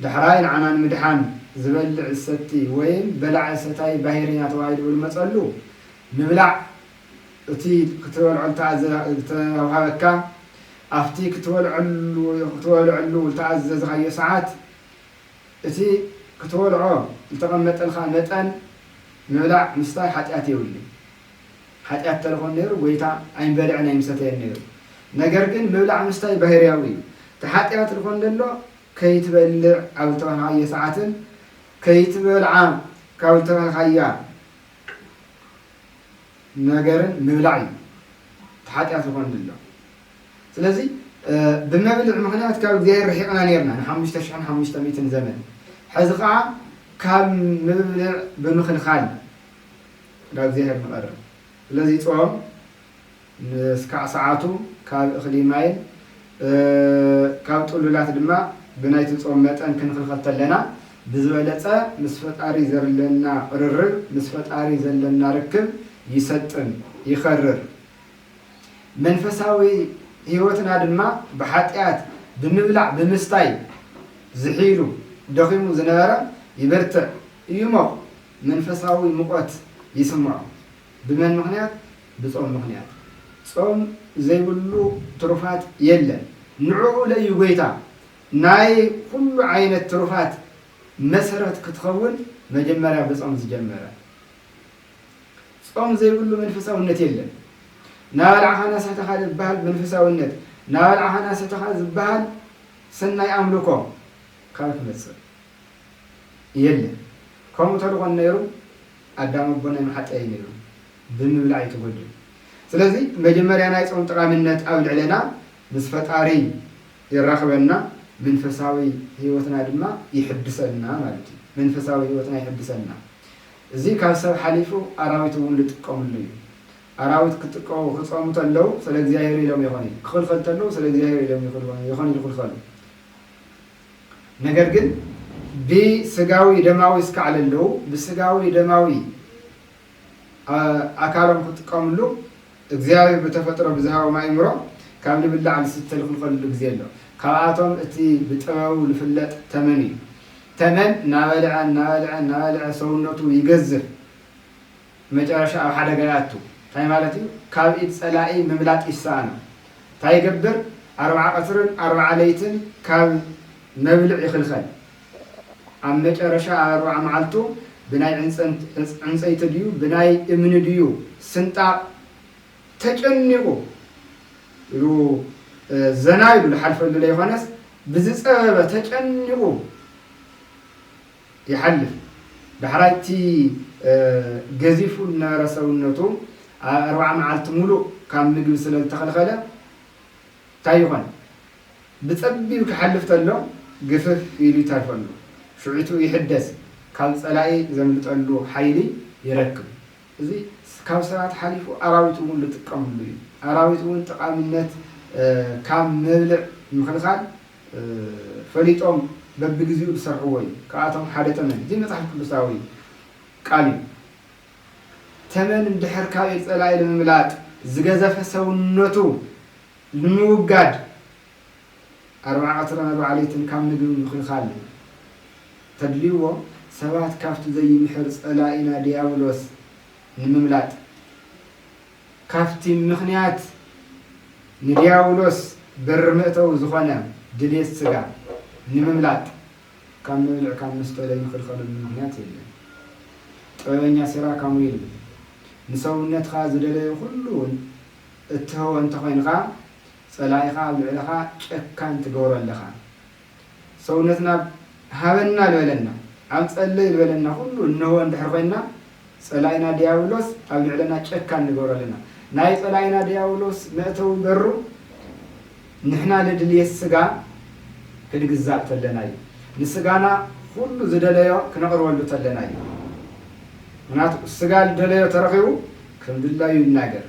ዳሕራይ ንዓና ንምድሓን ዝበልዕ ዝሰቲ ወይም በላዒ ሰታዪ ባህሪ ኢና ተባሂሉ ብልመጸሉ ምብላዕ እቲ ክትበልዖ ዝተውሃበካ ኣብቲ ክትበልዕሉ ዝተኣዘዝኻዮ ሰዓት እቲ ክትበልዖ ዝተቐመጠልካ መጠን ምብላዕ ምስታይ ሓጢኣት የብሉን። ሓጢኣት ተለኾን ነይሩ ጐይታ ኣይምበልዕን ኣይምሰተየን ነይሩ። ነገር ግን ምብላዕ ምስታይ ባሂርያዊ እዩ። እቲ ሓጢኣት ልኾን ለሎ ከይትበልዕ ኣብ ልተባህልካዮ ሰዓትን ከይትበልዓ ካብ ልተባህልካያ ነገርን ምብላዕ እዩ እቲ ሓጢኣት ልኾን ለሎ። ስለዚ ብመብልዕ ምክንያት ካብ እግዚኣብሔር ርሒቕና ነርና ንሓሙሽተ ሽሕን ሓሙሽተ ሚእትን ዘመን ሕዚ ከዓ ካብ ምብልዕ ብምክልካል ናብ እግዚኣብሔር ንቐርብ ስለዚ ጾም ንስካዕ ሰዓቱ ካብ እኽሊ ማይን ካብ ጥሉላት ድማ ብናይቲ ጾም መጠን ክንኽልኸል ተለና ብዝበለጸ ምስ ፈጣሪ ዘርለና ቕርርብ ምስ ፈጣሪ ዘለና ርክብ ይሰጥም ይኸርር መንፈሳዊ ሕይወትና ድማ ብሓጥያት ብምብላዕ ብምስታይ ዝሒሉ ደኺሙ ዝነበረ ይብርትዕ ይሞቕ መንፈሳዊ ሙቐት ይስምዖ። ብመን ምኽንያት? ብጾም ምኽንያት። ጾም ዘይብሉ ትሩፋት የለን። ንዕኡ ለዩ ጐይታ ናይ ኹሉ ዓይነት ትሩፋት መሰረት ክትኸውን መጀመርያ ብጾም ዝጀመረ። ጾም ዘይብሉ መንፈሳውነት የለን። ናበላዕኻና ሰተኻ ዝበሃል መንፈሳውነት፣ ናበላዕኻና ሰተኻ ዝበሃል ሰናይ ኣምልኮ ካበይ ክመጽእ? የለን ከምኡ ተድኾን ነይሩ ኣዳም ኣቦናይ ምሓፀየ ነይሩ ብምብላዕ እዩ ተጎዲኡ ስለዚ መጀመርያ ናይ ፆም ጠቃሚነት ኣብ ልዕለና ምስ ፈጣሪ የራኽበና መንፈሳዊ ህይወትና ድማ ይሕድሰልና ማለት እዩ መንፈሳዊ ህይወትና ይሕድሰልና እዚ ካብ ሰብ ሓሊፉ ኣራዊት እውን ልጥቀምሉ እዩ ኣራዊት ክጥቀው ክፀሙ ተለው ስለ እግዚኣብሔር ኢሎም ይኾን ክኽልኸል ተለው ስለ እግዚኣብሔር ኢሎም ይኾን ይኽልኸሉ ነገር ግን ብስጋዊ ደማዊ እስካዕ ለለዉ ብስጋዊ ደማዊ ኣካሎም ክጥቀምሉ እግዚኣብሔር ብተፈጥሮ ብዝሃቦም ኣእምሮ ካብ ልብላዕ ልስተ ልክልከልሉ ግዜ ኣሎ ካብኣቶም እቲ ብጥበቡ ልፍለጥ ተመን እዩ ተመን ናበልዐ ናበልዐ ናበልዐ ሰውነቱ ይገዝፍ ብመጨረሻ ኣብ ሓደጋ ይኣቱ። እንታይ ማለት እዩ? ካብ ኢድ ጸላኢ ምምላጥ ይሰኣኖ። እንታይ ይገብር? ኣርብዓ ቀትርን ኣርብዓ ለይትን ካብ መብልዕ ይኽልከል። ኣብ መጨረሻ ኣብ ኣርብዓ መዓልቱ ብናይ ዕንጸይቲ ድዩ ብናይ እምኒ ድዩ ስንጣቕ ተጨኒቑ ኢሉ ዘና ኢሉ ዝሓልፈሉ ለይኮነስ ብዝጸበበ ተጨኒቑ፣ ይሓልፍ። ዳሕራይ እቲ ገዚፉ ዝነበረ ሰውነቱ ኣብ ኣርብዓ መዓልቲ ምሉእ ካብ ምግቢ ስለ ዝተኸልኸለ እንታይ ይኾን? ብጸቢብ ክሓልፍ ተሎ ግፍፍ ኢሉ ይተርፈሉ። ሽዑ'ቱ ይሕደስ፣ ካብ ጸላኢ ዘምልጠሉ ሓይሊ ይረክብ። እዚ ካብ ሰባት ሓሊፉ ኣራዊት እውን ዝጥቀምሉ እዩ። ኣራዊት እውን ጠቓሚነት ካብ መብልዕ ምኽልኻል፣ ፈሊጦም በብግዚኡ ዝሰርሕዎ እዩ ካብኣቶም ሓደ ተመን እዚ መፅሓፍ ቅዱሳዊ ቃል እዩ ተመን እንድሕር ካሊእ ፀላኢ ንምምላጥ ዝገዘፈ ሰውነቱ ንምውጋድ ኣርብዓ ቀትርን ኣርብዓ ለይትን ካብ ምግቢ ምክልካል ተድልይዎ ሰባት ካብቲ ዘይምሕር ፀላኢና ድያብሎስ ንምምላጥ ካብቲ ምኽንያት ንድያብሎስ በሪ መእተዊ ዝኾነ ድሌት ስጋ ንምምላጥ ካብ መብልዕ ካብ መስተ ለይንኽልኸለሉ ምኽንያት የለን። ጥበበኛ ሲራክ ከምኡ ኢሉ፣ ንሰውነትኻ ዝደለዮ ኩሉ እውን እትህቦ እንተኾይንኻ፣ ጸላኢኻ ኣብ ልዕለኻ ጨካን ትገብሮ ኣለኻ። ሰውነትና ሃበና ልበለና ኣብ ጸለዩ ልበለና ኩሉ እንሆ እንድሕር ኮይንና ጸላኢና ድያብሎስ ኣብ ልዕለና ጨካን ንገብሮ ኣለና ናይ ጸላኢና ድያብሎስ መእተዊ በሩ ንሕና ልድልየት ስጋ ክንግዛእ ተለና እዩ ንስጋና ኩሉ ዝደለዮ ክነቕርበሉ ተለና እዩ ምክንያቱ ስጋ ልደለዮ ተረኺቡ ከም ድላዩ ይናገር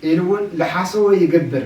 ኢሉ እውን ልሓሰዎ ይገብር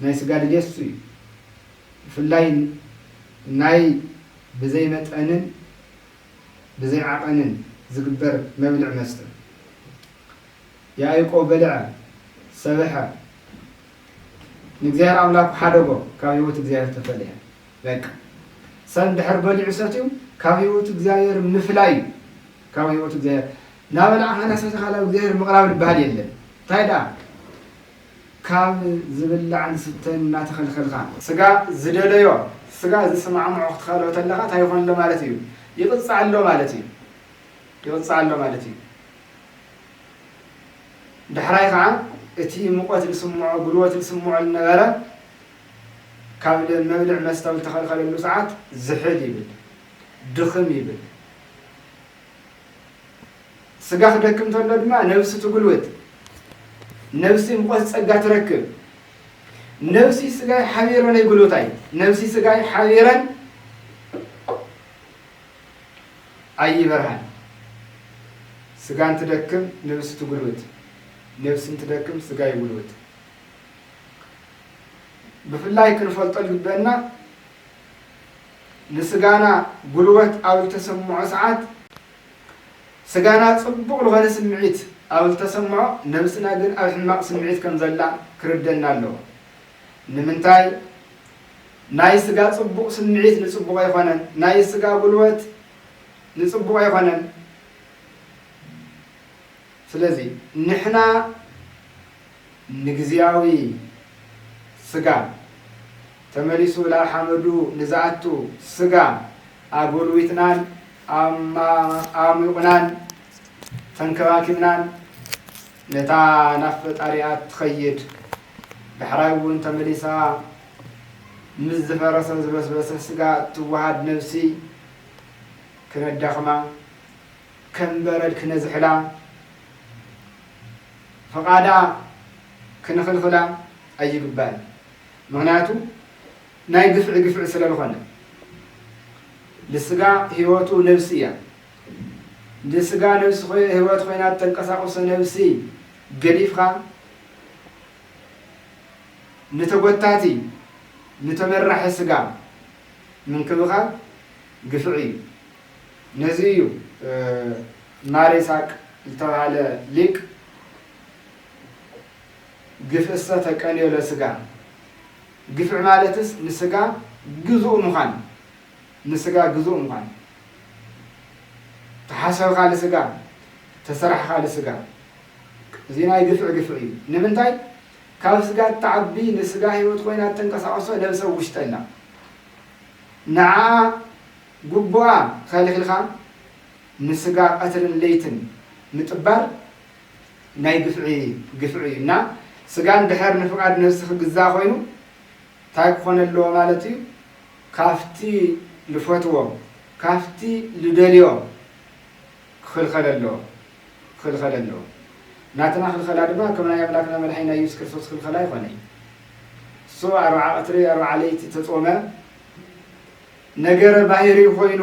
ናይ ስጋ ድሌት እሱ እዩ። ብፍላይ ናይ ብዘይ መጠንን ብዘይ ዓቐንን ዝግበር መብልዕ መስተ። ያእቆብ በልዐ፣ ሰብሐ፣ ንእግዚኣብሔር ኣምላኩ ሐደጎ፣ ካብ ሕይወት እግዚኣብሔር ተፈለየ። በቃ ሰብ እንድሕር በሊዑ ሰትዩ ካብ ሕይወት እግዚኣብሔር ምፍላይ እዩ። ካብ ሕይወት እግዚኣብሔር ናበላዕኻና ሰቲኻ ናብ እግዚኣብሔር ምቕራብ ልበሃል የለን። እንታይ ደኣ ካብ ዝብላዕን ዝስተን እናተኸልከልካ። ስጋ ዝደለዮ ስጋ ዝስማዕምዖ ክትኸልኦ ተለኻ ታይ ይኾን ኣሎ ማለት እዩ? ይቕጻዕ ኣሎ ማለት እዩ። ይቕጻዕ ኣሎ ማለት እዩ። ዳሕራይ ኸዓ እቲ ሙቐት ልስምዖ ጉልበት ልስምዖ ልነበረ ካብ መብልዕ መስተ ኣብ ልተኸልከለሉ ሰዓት ዝሕል ይብል። ድኽም ይብል። ስጋ ክደክም ተሎ ድማ ነብሲ ትጉልብት፣ ነብሲ ምቆት ጸጋ ትረክብ። ነብሲ ስጋይ ሓቢረን ኣይጉልብታይ፣ ነብሲ ስጋይ ሓቢረን ኣይበርሃን። ስጋን ትደክም ነብሲ ትጉልብት፣ ነብስን ትደክም ስጋ ይጉልብት። ብፍላይ ክንፈልጦ ዝግበና ንስጋና ጉልበት ኣብ ዝተሰምዖ ሰዓት ስጋና ጽቡቕ ልኾነ ስምዒት ኣብ ዝተሰምዖ ነብስና ግን ኣብ ሕማቕ ስምዒት ከም ዘላ ክርደና ኣለዎ። ንምንታይ ናይ ስጋ ጽቡቕ ስምዒት ንጽቡቕ ኣይኾነን ናይ ስጋ ጉልበት ንጽቡቕ ኣይኾነን። ስለዚ ንሕና ንግዝያዊ ስጋ፣ ተመሊሱ ናብ ሓመዱ ንዝኣቱ ስጋ ኣጎልዊትናን ኣማኣሙቑናን ተንከባኪብናን ነታ ናብ ፈጣሪኣ እትኸይድ ዳሕራይ እውን ተመሊሳ ምስ ዝፈረሰ ዝበስበሰ ስጋ እትወሃድ ነብሲ ክነዳኽማ ከም በረድ ክነዝሕላ፣ ፍቓዳ ክንኽልኽላ ኣይግባእን። ምኽንያቱ ናይ ግፍዒ ግፍዒ ስለ ልኾነ። ልስጋ ህይወቱ ነብሲ እያ። ልስጋ ነብሲ ህይወት ኮይና እተንቀሳቕሶ ነብሲ ገዲፍኻ ንተጎታቲ ንተመራሒ ስጋ ምንክብኻብ ግፍዒ እዩ። ነዚ እዩ ማሪሳቅ ዝተባህለ ሊቅ ግፍእሰ ተቀንዮ ለስጋ፣ ግፍዒ ማለትስ ንስጋ ግዙእ ምዃን፣ ንስጋ ግዙእ ምዃን፣ ተሓሰብካ ልስጋ፣ ተሰራሕኻ ልስጋ፣ እዚ ናይ ግፍዒ ግፍዒ እዩ። ንምንታይ ካብ ስጋ እትዓቢ ንስጋ ህይወት ኮይና እተንቀሳቕሶ ነብሰ ውሽጠ ኣላ ንዓ ጉቡኣ ኸልኺልካ ንስጋ ቀትርን ለይትን ምጥባር ናይ ግፍዒ ግፍዒ እዩ እና ስጋ እንድሕር ንፍቃድ ነብሲ ክግዛእ ኾይኑ ታይ ክኾን ኣለዎ ማለት እዩ ካፍቲ ልፈትዎ ካፍቲ ልደልዮ ክኽልኸል ኣለዎ ክኽልኸል ኣለዎ ናትና ክልኸላ ድማ ከም ናይ ኣምላክና መድሓኒና እየሱስ ክርስቶስ ክልኸል ኣይኾነይ እሱ ኣርብዓ ቀትሪ ኣርብዓ ለይቲ ተፆመ ነገረ ባህርይ ኾይኑ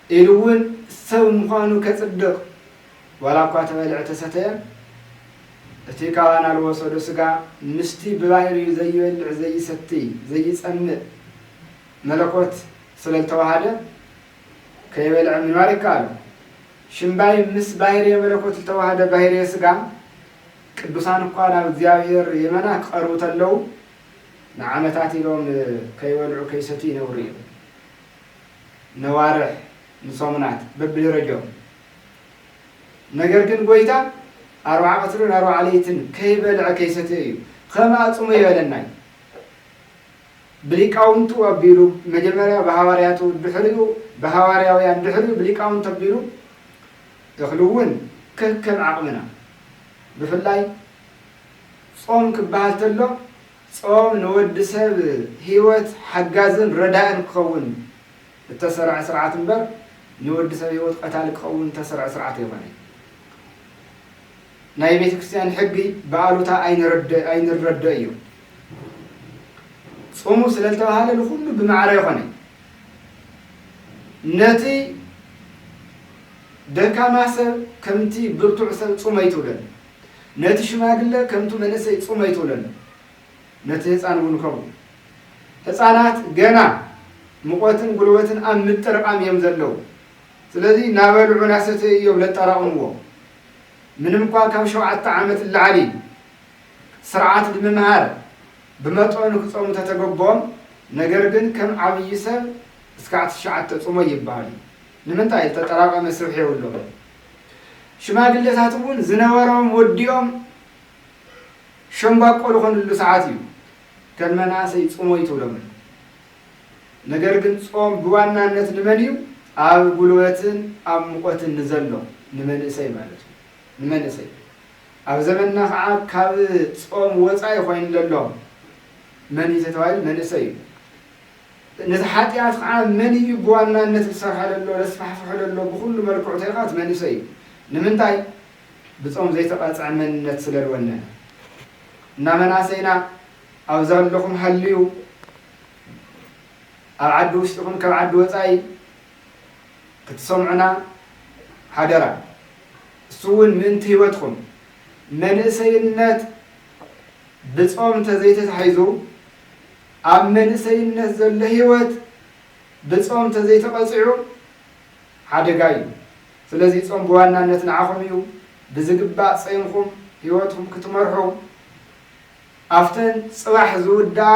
ኢሉ እውን ሰብ ምዃኑ ከፅድቕ ዋላ እኳ ተበልዐ ተሰተየ እቲ ካብ ኣናል ወሰዶ ስጋ ምስቲ ብባህርዩ ዘይበልዕ ዘይሰትይ ዘይፀምእ መለኮት ስለልተዋሃደ ከይበልዐ ምንባር ይከኣሎ። ሽምባይ ምስ ባህርየ መለኮት ልተዋሃደ ባህርየ ስጋ ቅዱሳን እኳ ናብ እግዚኣብሔር የመና ክቐርቡ ተለው ንዓመታት ኢሎም ከይበልዑ ከይሰትዩ ይነብሩ እዮም። ነዋርሕ ንሶሙናት በብደረጅኦም። ነገር ግን ጎይታ ኣርብዓ ቀትርን ኣርብዓ ለይትን ከይበልዐ ከይሰተየ እዩ ከም ኣጽሙ ይበለና እዩ። ብሊቃውንቱ ኣቢሉ መጀመርያ ብሃዋርያቱ ድሕሪኡ ብሃዋርያውያን ድሕሪኡ ብሊቃውንቱ ኣቢሉ እኽሊ እውን ከከም ዓቕምና ብፍላይ ጾም ክበሃል ተሎ ጾም ንወዲ ሰብ ህይወት ሓጋዝን ረዳእን ክኸውን እተሰርዐ ስርዓት እምበር ንወዲ ሰብ ህይወት ቀታሊ ክኸውን እተሰርዐ ስርዓት ኣይኮነን። ናይ ቤተ ክርስቲያን ሕጊ ብኣሉታ ኣይንረደእ እዩ። ጹሙ ስለ ዝተባህለ ንኹሉ ብማዕረ ይኾነ ነቲ ደካማ ሰብ ከምቲ ብርቱዕ ሰብ ጹመይ ትብለሉ ነቲ ሽማግለ ከምቱ መንእሰይ ጹም ኣይትብለሉ ነቲ ህጻን እውን ከምኡ ህጻናት ገና ምቆትን ጉልበትን ኣብ ምጥርቃም እዮም ዘለዉ ስለዚ ናበልዑ ናሰተዩ እዮም ለጠራቅምዎ ምንም እኳ ካብ ሸውዓተ ዓመት ላዕሊ ስርዓት ድምምሃር ብመጠኑ ክጸሙ ተተገቦም ነገር ግን ከም ዓብይ ሰብ እስካዕ ትሽዓተ ጽሞይ ይበሃል እዩ ንምንታይ ዝተጠራቀመ ስብሒ የብሎም ሽማግለታት እውን ዝነበሮም ወዲኦም ሸምባቆ ዝኾንሉ ሰዓት እዩ። ከም መናእሰይ ጽሞ እዩ ትብሎም ነይሩ። ነገር ግን ጾም ብዋናነት ንመን እዩ? ኣብ ጉልበትን ኣብ ሙቐትን ንዘሎ ንመንእሰይ ማለት እዩ። ንመንእሰይ ኣብ ዘመንና ከዓ ካብ ጾም ወጻኢ ኮይኑ ለሎ መን እዩ ተተባሂሉ መንእሰይ እዩ። ነቲ ሓጥያት ከኣ መን ኢዩ ብዋናነት ልሰርሖ ለሎ ለስፋሕፍሖ ለሎ ብኹሉ መልክዑ ተልካት መንእሰይ ኢዩ ንምንታይ ብጾም ዘይተቀጽዐ መንነት ስለ ልወነነ እና መናእሰይና ኣብ ዘለኹም ሃልዩ ኣብ ዓዲ ውሽጢ ይኹን ካብ ዓዲ ወጻኢ ክትሰምዑና ሓደራ እሱ እውን ምእንቲ ህይወትኩም መንእሰይነት ብጾም ተዘይተታሒዙ ኣብ መንእሰይነት ዘሎ ህይወት ብጾም ተዘይተቐጺዑ ሓደጋ እዩ። ስለዚ ጾም ብዋናነት ንዓኹም እዩ። ብዝግባእ ጸይምኩም ህይወትኩም ክትመርሑ ኣብተን ጽባሕ ዝውድኣ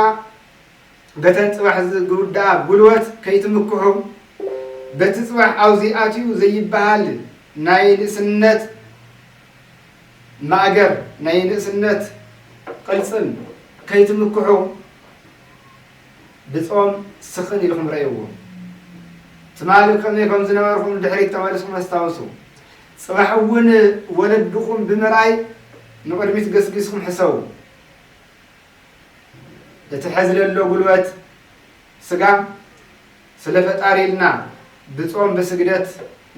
በተን ጽባሕ ዝውድኣ ጉልበት ከይትምክሑ በቲ ጽባሕ ኣውዚ ኣትዩ ዘይብሃል ናይ ንእስነት ማእገር ናይ ንእስነት ቕልጽም ከይትምክሑ ብጾም ስኽን ኢልኹም ረእይዎ። ትማሊ ከመይ ከም ዝነበርኩም ንድሕሪት ተመሊስኩም ኣስታውሱ። ጽባሕ እውን ወለድኹም ብምርኣይ ንቕድሚት ገስጊስኩም ሕሰቡ። እቲ ሕዚ ለሎ ጉልበት፣ ስጋ ስለ ፈጣሪ ኢልና ብጾም ብስግደት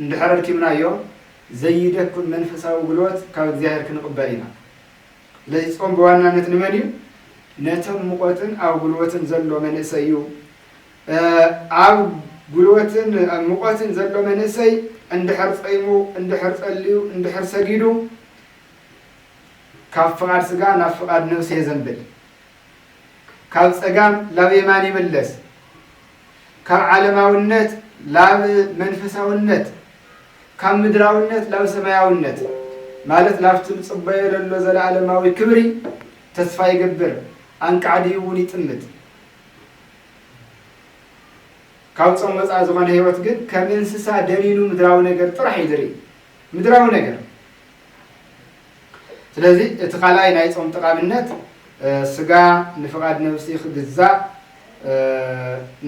እንድሕር ኣድኪምናዮ ዘይደኩም መንፈሳዊ ጉልበት ካብ እግዚኣብሔር ክንቕበል ኢና። ስለዚ ጾም ብዋናነት ንመን እዩ? ነቶም ሙቐትን ኣብ ጉልበትን ዘሎ መንእሰይ እዩ። ኣብ ጉልበትን ሙቐትን ዘሎ መንእሰይ እንድሕር ጸይሙ እንድሕር ጸልዩ እንድሕር ሰጊዱ ካብ ፍቓድ ስጋ ናብ ፍቓድ ነብሲ የዘንብል። ካብ ጸጋም ላብ የማን ይምለስ ካብ ዓለማውነት ላብ መንፈሳውነት ካብ ምድራውነት ላብ ሰማያውነት ማለት ላብቲ ንጽበዮ ለሎ ዘለዓለማዊ ክብሪ ተስፋ ይገብር ኣንቃዕድዩ እውን ይጥምት ካብ ጾም ወጻኢ ዝኾነ ህይወት ግን ከም እንስሳ ደኒኑ ምድራዊ ነገር ጥራሕ እዩ ዝርኢ ምድራዊ ነገር ስለዚ እቲ ካልኣይ ናይ ጾም ጠቓምነት ስጋ ንፍቓድ ነብሲ ክግዛእ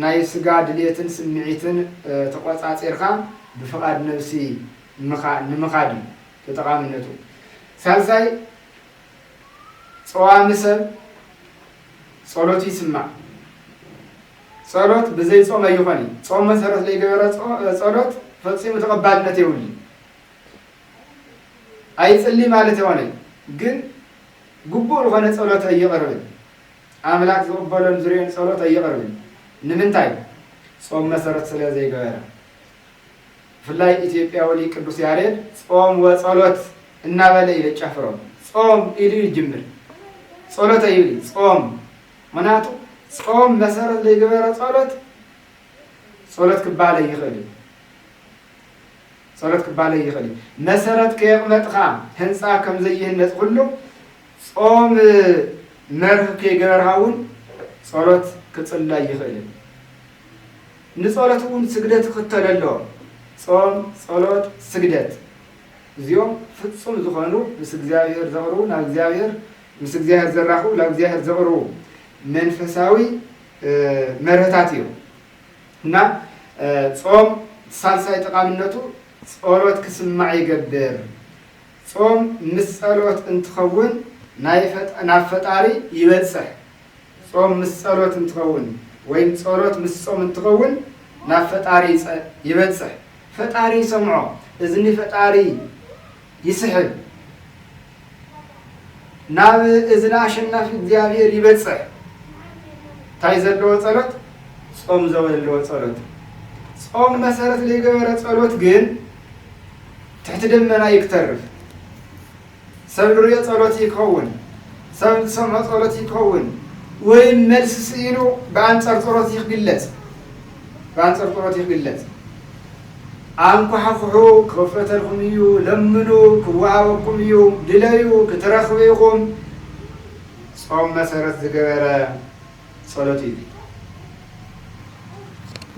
ናይ ስጋ ድሌትን ስምዒትን ተቖጻጺርካ ብፍቓድ ነብሲ ንምኻድ እዩ ተጠቓምነቱ ሳልሳይ ጸዋሚ ሰብ ጸሎቱ ይስማዕ ጸሎት ብዘይ ጾም ኣይኾን እዩ ጾም መሰረት ለይገበረ ጸሎት ፈጺሙ ተቐባልነት የብሉ ኣይጽሊ ማለት የኾነይ ግን ግቡእ ዝኾነ ጸሎት ኣይቕርብን ኣምላክ ዝቕበሎን ዝርኦን ጸሎት ኣይቕርብን ንምንታይ ጾም መሰረት ስለ ዘይገበረ ብፍላይ ኢትዮጵያዊ ሊቅ ቅዱስ ያሬድ ጾም ወጸሎት እናበለ እዩ የጫፍሮም። ጾም ኢሉ እዩ ዝጅምር፣ ጸሎት ኣይብል እዩ ጾም። ምክንያቱ ጾም መሰረት ዘይገበረ ጸሎት ጸሎት ክባለ ይኽእል እዩ ጸሎት ክባለ ይኽእል እዩ። መሰረት ከየቕመጥኻ ህንፃ ከም ዘይህነፅ ኩሉ ጾም መርህ ከይገበርካ እውን ጸሎት ክጽላይ ይኽእል እዩ። ንጸሎት እውን ስግደት ይኽተሎ ኣሎ። ጾም፣ ጸሎት፣ ስግደት እዚኦም ፍጹም ዝኾኑ ምስ እግዚኣብሔር ዘቕርቡ ናብ እግዚኣብሔር ምስ እግዚኣብሔር ዘራኽቡ ናብ እግዚኣብሔር ዘቕርቡ መንፈሳዊ መርህታት እዮም እና ጾም ሳልሳይ ጠቃምነቱ ጸሎት ክስማዕ ይገብር። ጾም ምስ ጸሎት እንትኸውን ናብ ፈጣሪ ይበጽሕ። ጾም ምስ ጸሎት እንትኸውን ወይም ጸሎት ምስ ጾም እንትኸውን ናብ ፈጣሪ ይበጽሕ ፈጣሪ ይሰምዖ እዝኒ ፈጣሪ ይስሕብ ናብ እዝኒ ኣሸናፊ እግዚኣብሔር ይበጽሕ እንታይ ዘለዎ ጸሎት ጾም ዘወለዎ ጸሎት ጾም መሰረት ዘይገበረ ጸሎት ግን ትሕቲ ደመና ይክተርፍ ሰብ ልሪኦ ጸሎት እዩ ክኸውን ሰብ ልሰምዖ ጸሎት እዩ ክኸውን ወይም መልሲ ስኢኑ ብኣንጸር ጸሎት እዩ ክግለጽ ብኣንጸር ጸሎት እዩ ክግለጽ ኣንኳሕኩሑ ክኽፈተልኩም እዩ ለምኑ ክወሃበኩም እዩ ድለዩ ክትረኽቡ ኢኹም ጾም መሰረት ዝገበረ ጸሎት እዩ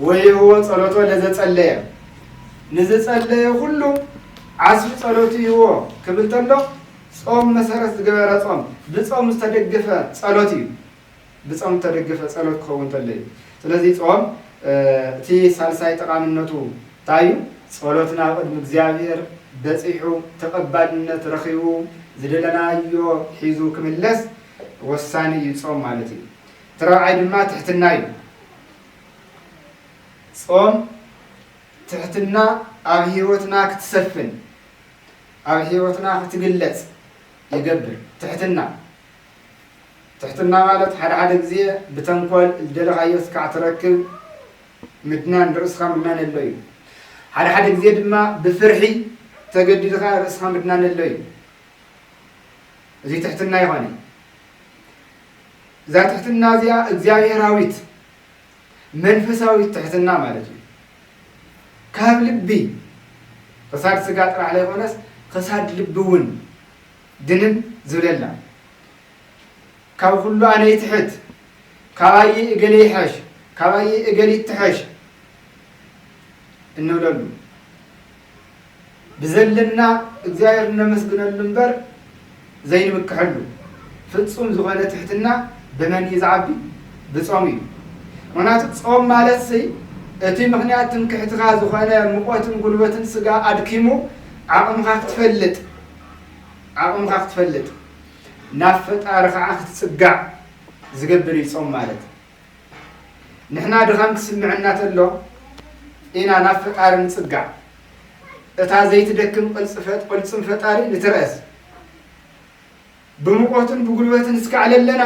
ወይህቦ ጸሎቶ ለዘጸለየ ንዝጸለየ ኩሉ ዓስቢ ጸሎቱ ይህቦ ክብል ተሎ ጾም መሰረት ዝገበረ ጾም ብጾም ዝተደገፈ ጸሎት እዩ ብጾም ዝተደገፈ ጸሎት ክኸውን ተሎ እዩ ስለዚ ጾም እቲ ሳልሳይ ጠቃምነቱ እንታይ እዩ ጸሎትና ኣብ ቅድሚ እግዚኣብሔር በጺሑ ተቀባልነት ረኺቡ ዝደለናዮ ሒዙ ክምለስ ወሳኒ እዩ ጾም ማለት እዩ እቲ ረብዓይ ድማ ትሕትና እዩ ጾም ትሕትና ኣብ ሕይወትና ክትሰፍን ኣብ ሕይወትና ክትግለጽ ይገብር ትሕትና ትሕትና ማለት ሓደ ሓደ ግዜ ብተንኮል ዝደለኻዮ ስካዕ ትረክብ ምድናን ርእስኻ ምድናን ኣሎ እዩ ሓደ ሓደ ግዜ ድማ ብፍርሒ ተገዲድኻ ርእስኻ ምድናን ኣሎ እዩ እዚ ትሕትና ይኾነ እዛ ትሕትና እዚኣ እግዚኣብሔራዊት መንፈሳዊ ትሕትና ማለት እዩ። ካብ ልቢ ኽሳድ ስጋ ጥራሕ ለይኾነስ ኽሳድ ልቢ እውን ድንን ዝብለላ ካብ ኹሉ ኣነ ይትሕት ካባይይ እገሌ ይሐሽ ካባይይ እገሊት ትሐሽ እንብለሉ ብዘለና እግዚኣብሔር እነመስግነሉ እምበር ዘይንምክሐሉ ፍፁም ዝኾነ ትሕትና ብመን እዩ ዝዓቢ? ብፆም እዩ። ምኽንያቱ ፆም ማለትሲ እቲ ምኽንያት ትምክሕትኻ ዝኾነ ሙቆትን ጉልበትን ስጋ ኣድኪሙ ዓቕምኻ ክትፈልጥ ዓቕምኻ ክትፈልጥ ናብ ፈጣሪ ከዓ ክትፅጋዕ ዝገብር እዩ ፆም ማለት። ንሕና ድኻም ክስምዐና ተሎ ኢና ናብ ፈጣሪ ንጽጋዕ እታ ዘይትደክም ቅልጽፈት ቅልጽም ፈጣሪ ንትረእስ ብሙቆትን ብጉልበትን እስካዕ ለለና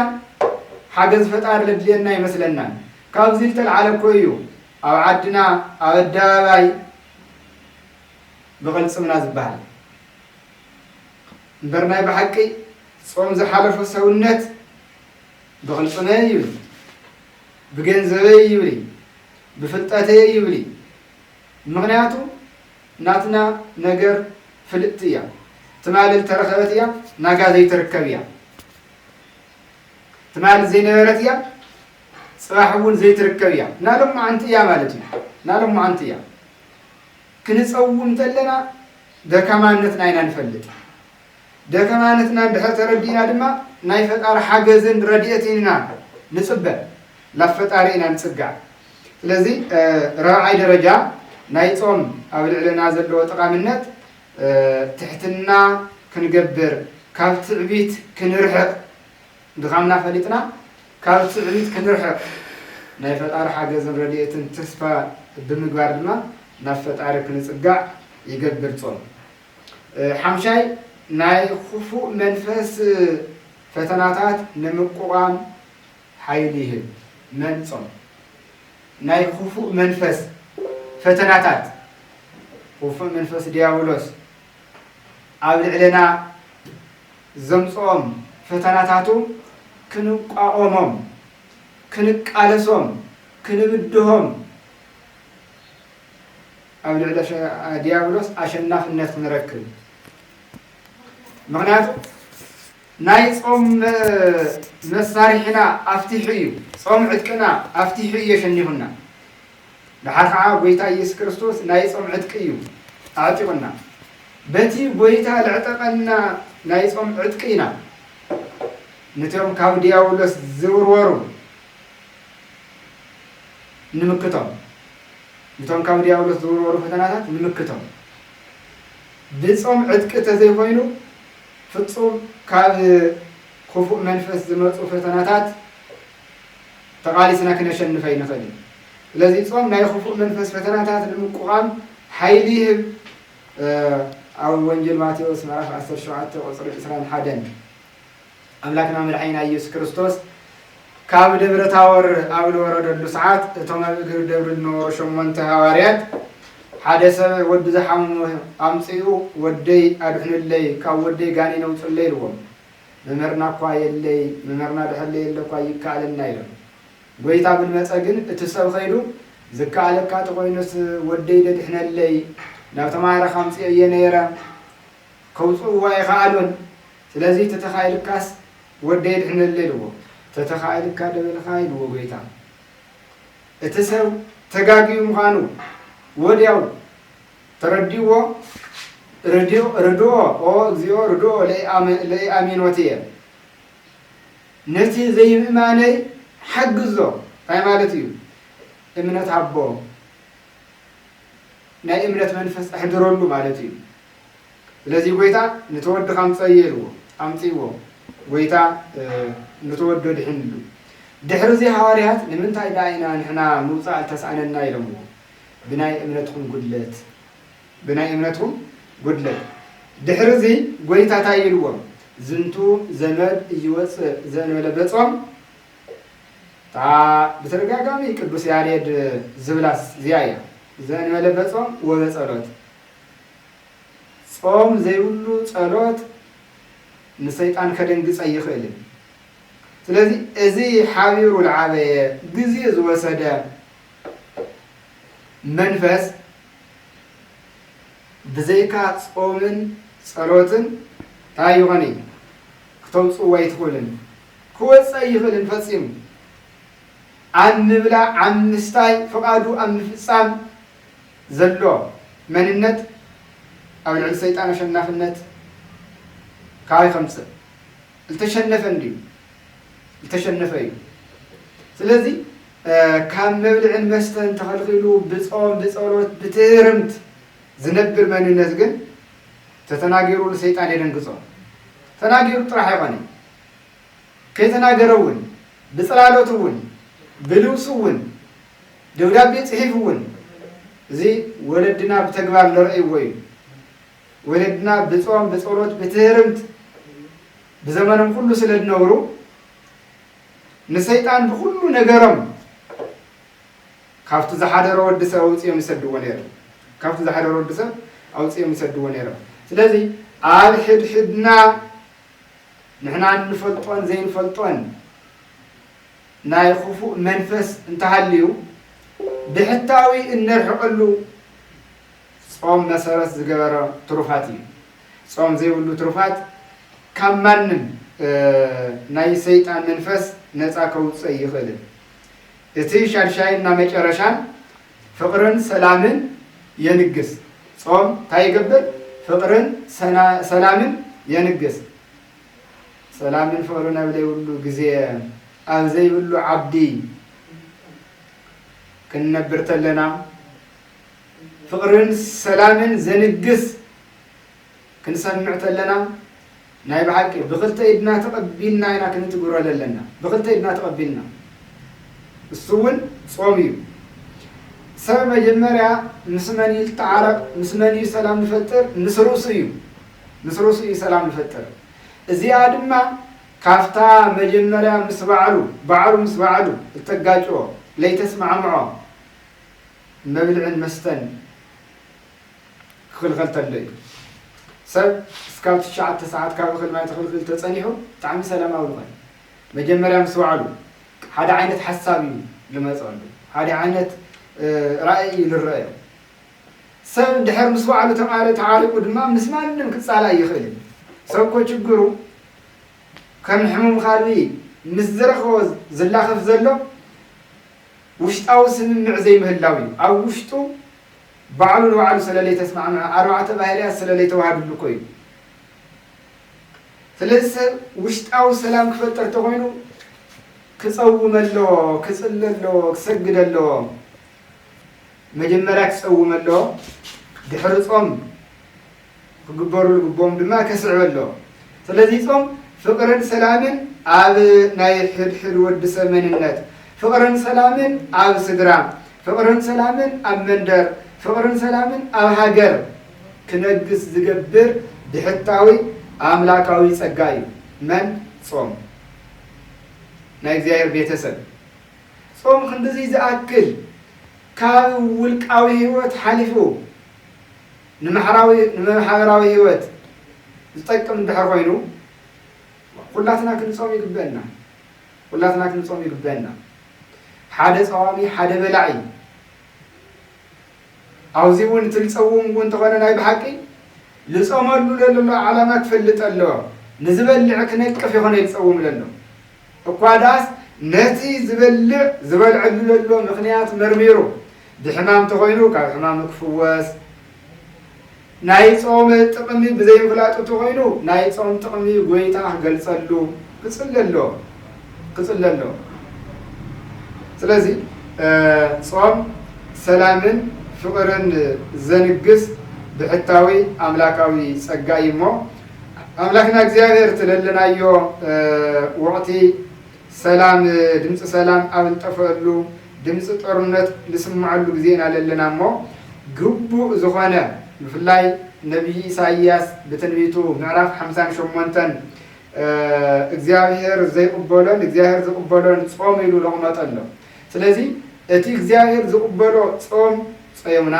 ሓገዝ ፈጣሪ ለድልየና ይመስለናን ካብዚ ዝተልዓለ እኮ እዩ ኣብ ዓድና ኣብ ኣደባባይ ብቕልጽምና ዝበሃል እምበር ናይ ብሓቂ ጾም ዝሓለፎ ሰውነት ብቕልፅመይ ይብሊ፣ ብገንዘበይ ይብሊ፣ ብፍልጠተይ ይብሊ፣ ምኽንያቱ ናትና ነገር ፍልጥቲ እያ፣ ትማሊ ዝተረኸበት እያ፣ ናጋ ዘይትርከብ እያ፣ ትማሊ ዘይነበረት እያ፣ ፅባሕ እውን ዘይትርከብ እያ፣ ናሎማዓንቲ እያ ማለት እዩ፣ ናሎማዓንቲ እያ። ክንፀውም ተለና ደካማነትና ኢና ንፈልጥ። ደከማነትና እንድሕር ተረዲእና ድማ ናይ ፈጣሪ ሓገዝን ረድኤትን ኢና ንጽበ። ናብ ፈጣሪ ኢና ንጽጋዕ። ስለዚ ራብዓይ ደረጃ ናይ ጾም ኣብ ልዕለና ዘለዎ ጠቓምነት ትሕትና ክንገብር ካብ ትዕቢት ክንርሕቕ ድኻምና ፈሊጥና ካብ ትዕቢት ክንርሕቕ ናይ ፈጣሪ ሓገዝን ረድኤትን ተስፋ ብምግባር ድማ ናብ ፈጣሪ ክንጽጋዕ ይገብር ጾም። ሓምሻይ፣ ናይ ኽፉእ መንፈስ ፈተናታት ንምቁቋም ሓይሊ ይህብ። መን ጾም ናይ ኽፉእ መንፈስ ፈተናታት፣ ኽፉእ መንፈስ ድያብሎስ ኣብ ልዕሌና ዘምጽኦም ፈተናታቱ ክንቋቖሞም፣ ክንቃለሶም፣ ክንብድሆም፣ ኣብ ልዕሊ ዲያብሎስ ኣሸናፍነት ንረክብ ምክንያቱ ናይ ጾም መሳርሒና ኣፍቲሑ እዩ ጾም ዕጥቅና ኣፍቲሑ እዩ የሸኒፉና ድሓር ከዓ ጎይታ ኢየሱስ ክርስቶስ ናይ ጾም ዕጥቂ እዩ ኣዕጢቁና በቲ ጎይታ ለዕጠቀና ናይ ጾም ዕጥቂ ኢና ንትዮም ካብ ዲያብሎስ ዝውርወሩ ንምክቶም ንቶም ካብ ድያብሎስ ዝውርወሩ ፈተናታት ንምክቶም ብጾም ዕጥቂ ተዘይኮይኑ ፍጹም ካብ ክፉእ መንፈስ ዝመጹ ፈተናታት ተቓሊስና ክነሸንፍ ኣይንኽእልን። ስለዚ ጾም ናይ ክፉእ መንፈስ ፈተናታት ንምቁቓም ሓይሊ ይህብ። ኣብ ወንጌል ማቴዎስ ምዕራፍ ዓሰርተ ሸውዓተ ቁጽሪ ዕስራን ሓደን ኣምላክና መድሓኒና ኢየሱስ ክርስቶስ ካብ ደብረ ታወር ኣብ ልወረደሉ ሰዓት እቶም ኣብ እግሪ ደብሪ ልነበሩ ሸሞንተ ሃዋርያት ሓደ ሰብ ወዱ ዝሓመሞ ኣምጽኡ ወደይ ኣድሕኑለይ ካብ ወደይ ጋኔን ኣውጹለይ ኢልዎም መምህርና እኳ የለይ መምህርና ድሕር ለየለ እኳ ኣይከኣለና ኢሎም ጐይታ ብልመጸ ግን እቲ ሰብ ኸይዱ ዝከኣለካ ተኾይኑስ ወደይ ደድሕነለይ ናብ ተማሃረ ካምጽኦ እየ ነይረ ከውጽእዎ ኣይኸኣሉን ስለዚ ተተኻኢልካስ ወደይ ኣድሕነለይ ኢልዎ። ተተኻኢልካ ዶ በልኻ ኢልዎ ጎይታ። እቲ ሰብ ተጋግዩ ምዃኑ ወድያው ተረዲእዎ ርድኦ ኦ እግዚኦ ርድኦ ለኢኣሚኖትየ ነቲ ዘይምእማነይ ሓግዞ እንታይ ማለት እዩ እምነት ሃቦ ናይ እምነት መንፈስ ኣሕድረሉ ማለት እዩ። ስለዚ ጐይታ ኑቲ ወድኻ ኣምጽኣዮ ኢልዎ፣ ኣምጺእዎ፣ ጐይታ ኑቲ ወዱ ኣድሒንሉ። ድሕርዚ ሃዋርያት ንምንታይ ደኣ ኢና ንሕና ምውጻእ እተስኣነና ኢሎምዎ፣ ብናይ እምነትኩም ጕድለት፣ ብናይ እምነትኩም ጕድለት። ድሕርዚ ጐይታ እንታይ ኢልዎም፣ ዝንቱ ዘመድ እይወጽእ ዘእንበለ በጾም እታ ብተደጋጋሚ ቅዱስ ያሬድ ዝብላስ እዚኣ እያ፣ ዘእንበለ በጾም ወበጸሎት ጾም ዘይብሉ ጸሎት ንሰይጣን ከደንግጽ ኣይኽእልን። ስለዚ እዚ ሓቢሩ ዝዓበየ ግዜ ዝወሰደ መንፈስ ብዘይካ ጾምን ጸሎትን እንታይ ይኾን እዩ ክተውፅዎ ኣይትኽእልን ክወፅእ ኣይኽእልን ፈፂሙ ኣብ ምብላዕ ኣብ ምስታይ ፍቓዱ ኣብ ምፍፃም ዘሎ መንነት ኣብ ልዕሊ ሰይጣን ኣሸናፍነት ካባይ ከምጽእ ልተሸነፈ እንድዩ ልተሸነፈ እዩ ስለዚ ካብ መብልዕን መስተን ተኸልኺሉ ብጾም ብጸሎት ብትህርምት ዝነብር መንነት ግን ተተናጊሩ ንሰይጣን የደንግጾ ተናጊሩ ጥራሕ ኣይኮነ ከይተናገረ እውን ብጽላለቱ እውን ብልብሱ እውን ደብዳቤ ጽሒፉ እውን እዚ ወለድና ብተግባር ለርኣይዎ እዩ። ወለድና ብጾም ብጸሎት ብትህርምት ብዘመኖም ኩሉ ስለ ዝነብሩ ንሰይጣን ብኩሉ ነገሮም ካብቲ ዝሓደሮ ወዲ ሰብ ኣውጽኦም ይሰድዎ ነይሮም ካብቲ ዝሓደሮ ወዲ ሰብ ኣውጽኦም ይሰድዎ ነይሮም ስለዚ ኣብ ሕድሕድና ንሕና እንፈልጦን ዘይንፈልጦን ናይ ኹፉእ መንፈስ እንተሃልዩ ብሕታዊ እነርሕቀሉ ጾም መሰረት ዝገበረ ትሩፋት እዩ። ጾም ዘይብሉ ትሩፋት ካብ ማንም ናይ ሰይጣን መንፈስ ነጻ ከውጽእ ኣይኽእልን። እቲ ሻድሻይን እና መጨረሻን ፍቅርን ሰላምን የንግስ። ጾም ታይ ይገብር ፍቅርን ሰላምን የንግስ። ሰላምን ፍቕርን ኣብ ዘይብሉ ግዜ ኣብ ዘይብሉ ዓዲ ክንነብር ተለና ፍቕርን ሰላምን ዘንግስ ክንሰምዕ ተለና ናይ ብሓቂ ብክልተ ኢድና ተቐቢልና ኢና ክንትግብሮ ዘለና ብክልተ ኢድና ተቐቢልና እሱ እውን ጾም እዩ ሰብ መጀመርያ ምስ መን እዩ ዝተዓረቕ ምስ መን እዩ ሰላም ዝፈጥር ምስ ርእሱ እዩ ምስ ርእሱ እዩ ሰላም ዝፈጥር። እዚኣ ድማ ካብታ መጀመርያ ምስ ባዕሉ ባዕሉ ምስ ባዕሉ እተጋጭዎ ለይተስማዕምዖ መብልዕን መስተን ክኽልኸል ተሎ እዩ። ሰብ እስካብ ትሽዓተ ሰዓት ካብ እኽል ማይ ተኽልኪሉ ተጸኒሑ ብጣዕሚ ሰላማዊ ዝኾነ መጀመርያ ምስ ባዕሉ ሓደ ዓይነት ሓሳብ እዩ ልመጸሉ ሓደ ዓይነት ራእይ እዩ ልረአዮ ሰብ እንድሕር ምስ ባዕሉ ተዓሪቁ ድማ ምስ ማንም ክፃላእ ኣይኽእልን። ሰብ እኮ ችግሩ ከም ሕሙም ኻልኢ ምስ ዝረኸቦ ዝላኸፍ ዘሎ ውሽጣዊ ስምምዕ ዘይምህላው እዩ። ኣብ ውሽጡ ባዕሉ ንባዕሉ ስለለይተስማዕምዐ ኣርባዕተ ባህርያት ስለለይተዋሃዱሉ እኮ እዩ። ስለዚ ሰብ ውሽጣዊ ሰላም ክፈጠር ተኾይኑ ክፀውም ኣለዎ፣ ክፅሊ ኣለዎ፣ ክሰግድ ኣለዎ። መጀመርያ ክጸውም ኣለዎ ድሕሪ ጾም ክግበሩ ልግቦም ድማ ከስዕብ ኣለዎ ስለዚ ጾም ፍቅርን ሰላምን ኣብ ናይ ሕድሕድ ወዲ ሰብ መንነት ፍቅርን ሰላምን ኣብ ስድራ ፍቅርን ሰላምን ኣብ መንደር ፍቅርን ሰላምን ኣብ ሃገር ክነግስ ዝገብር ብሕታዊ ኣምላካዊ ጸጋ እዩ መን ጾም ናይ እግዚኣብሔር ቤተሰብ ጾም ክንድዚ ዝኣክል ካብ ውልቃዊ ህይወት ሓሊፉ ንማሕበራዊ ህይወት ዝጠቅም እንድሕር ኮይኑ ኩላትና ክንጾም ይግበእና ኩላትና ክንጾም ይግበእና ሓደ ጸዋሚ ሓደ በላዒ ኣብዚ እውን እቲ ልጸውም እውን ተኾነ ናይ ብሓቂ ልጾመሉ ለሎ ዓላማ ክፈልጥ ኣሎ ንዝበልዕ ክነቅፍ ይኾነ ልጸውም ለሎ እኳ ደኣስ ነቲ ዝበልዕ ዝበልዐሉ ዘሎ ምኽንያት መርሚሩ ብሕማም ተኾይኑ ካብ ሕማሙ ክፍወስ፣ ናይ ጾም ጥቕሚ ብዘይምፍላጡ ተኾይኑ ናይ ጾም ጥቕሚ ጎይታ ክገልጸሉ ክጽሊ ኣለዎ ክጽሊ ኣለዎ። ስለዚ ጾም ሰላምን ፍቕርን ዘንግስ ብሕታዊ ኣምላካዊ ጸጋ እዩ እሞ ኣምላክና እግዚኣብሔር ትለለናዮ ወቅቲ ሰላም ድምፂ ሰላም ኣብ ልጠፈእሉ ድምፂ ጦርነት ልስመዐሉ ግዜ ኢና ለለና እሞ ግቡእ ዝኾነ ብፍላይ ነቢይ ኢሳይያስ ብትንቢቱ ምዕራፍ ሓምሳን ሸሞንተን እግዚኣብሔር ዘይቕበሎን እግዚኣብሔር ዝቕበሎን ጾም ኢሉ ለቕመጠሎ ስለዚ እቲ እግዚኣብሔር ዝቕበሎ ጾም ጸዮምና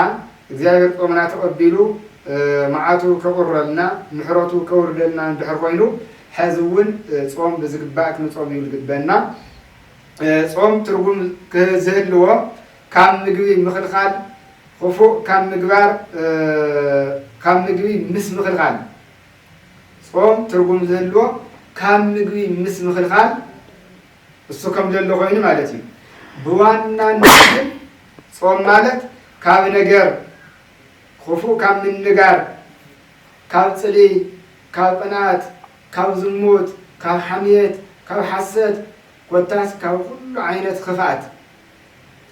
እግዚኣብሔር ጾምና ተቐቢሉ መዓቱ ከቑረልና ምሕረቱ ከውርደልና እንድሕር ኮይኑ ሐዚ እውን ጾም ብዝግባእ ክንጾም እዩ ልግበና። ጾም ትርጉም ክዝህልዎ ካብ ምግቢ ምኽልኻል ኹፉእ ካብ ምግባር ካብ ምግቢ ምስ ምኽልኻል ጾም ትርጉም ዝህልዎ ካብ ምግቢ ምስ ምኽልኻል እሱ ከም ዘሎ ኮይኑ ማለት እዩ። ብዋናነት ግን ጾም ማለት ካብ ነገር ክፉእ ካብ ምንጋር፣ ካብ ጽልኢ፣ ካብ ቅንኣት፣ ካብ ዝሙት፣ ካብ ሓምየት፣ ካብ ሓሰት ኮታስ ካብ ኩሉ ዓይነት ክፍኣት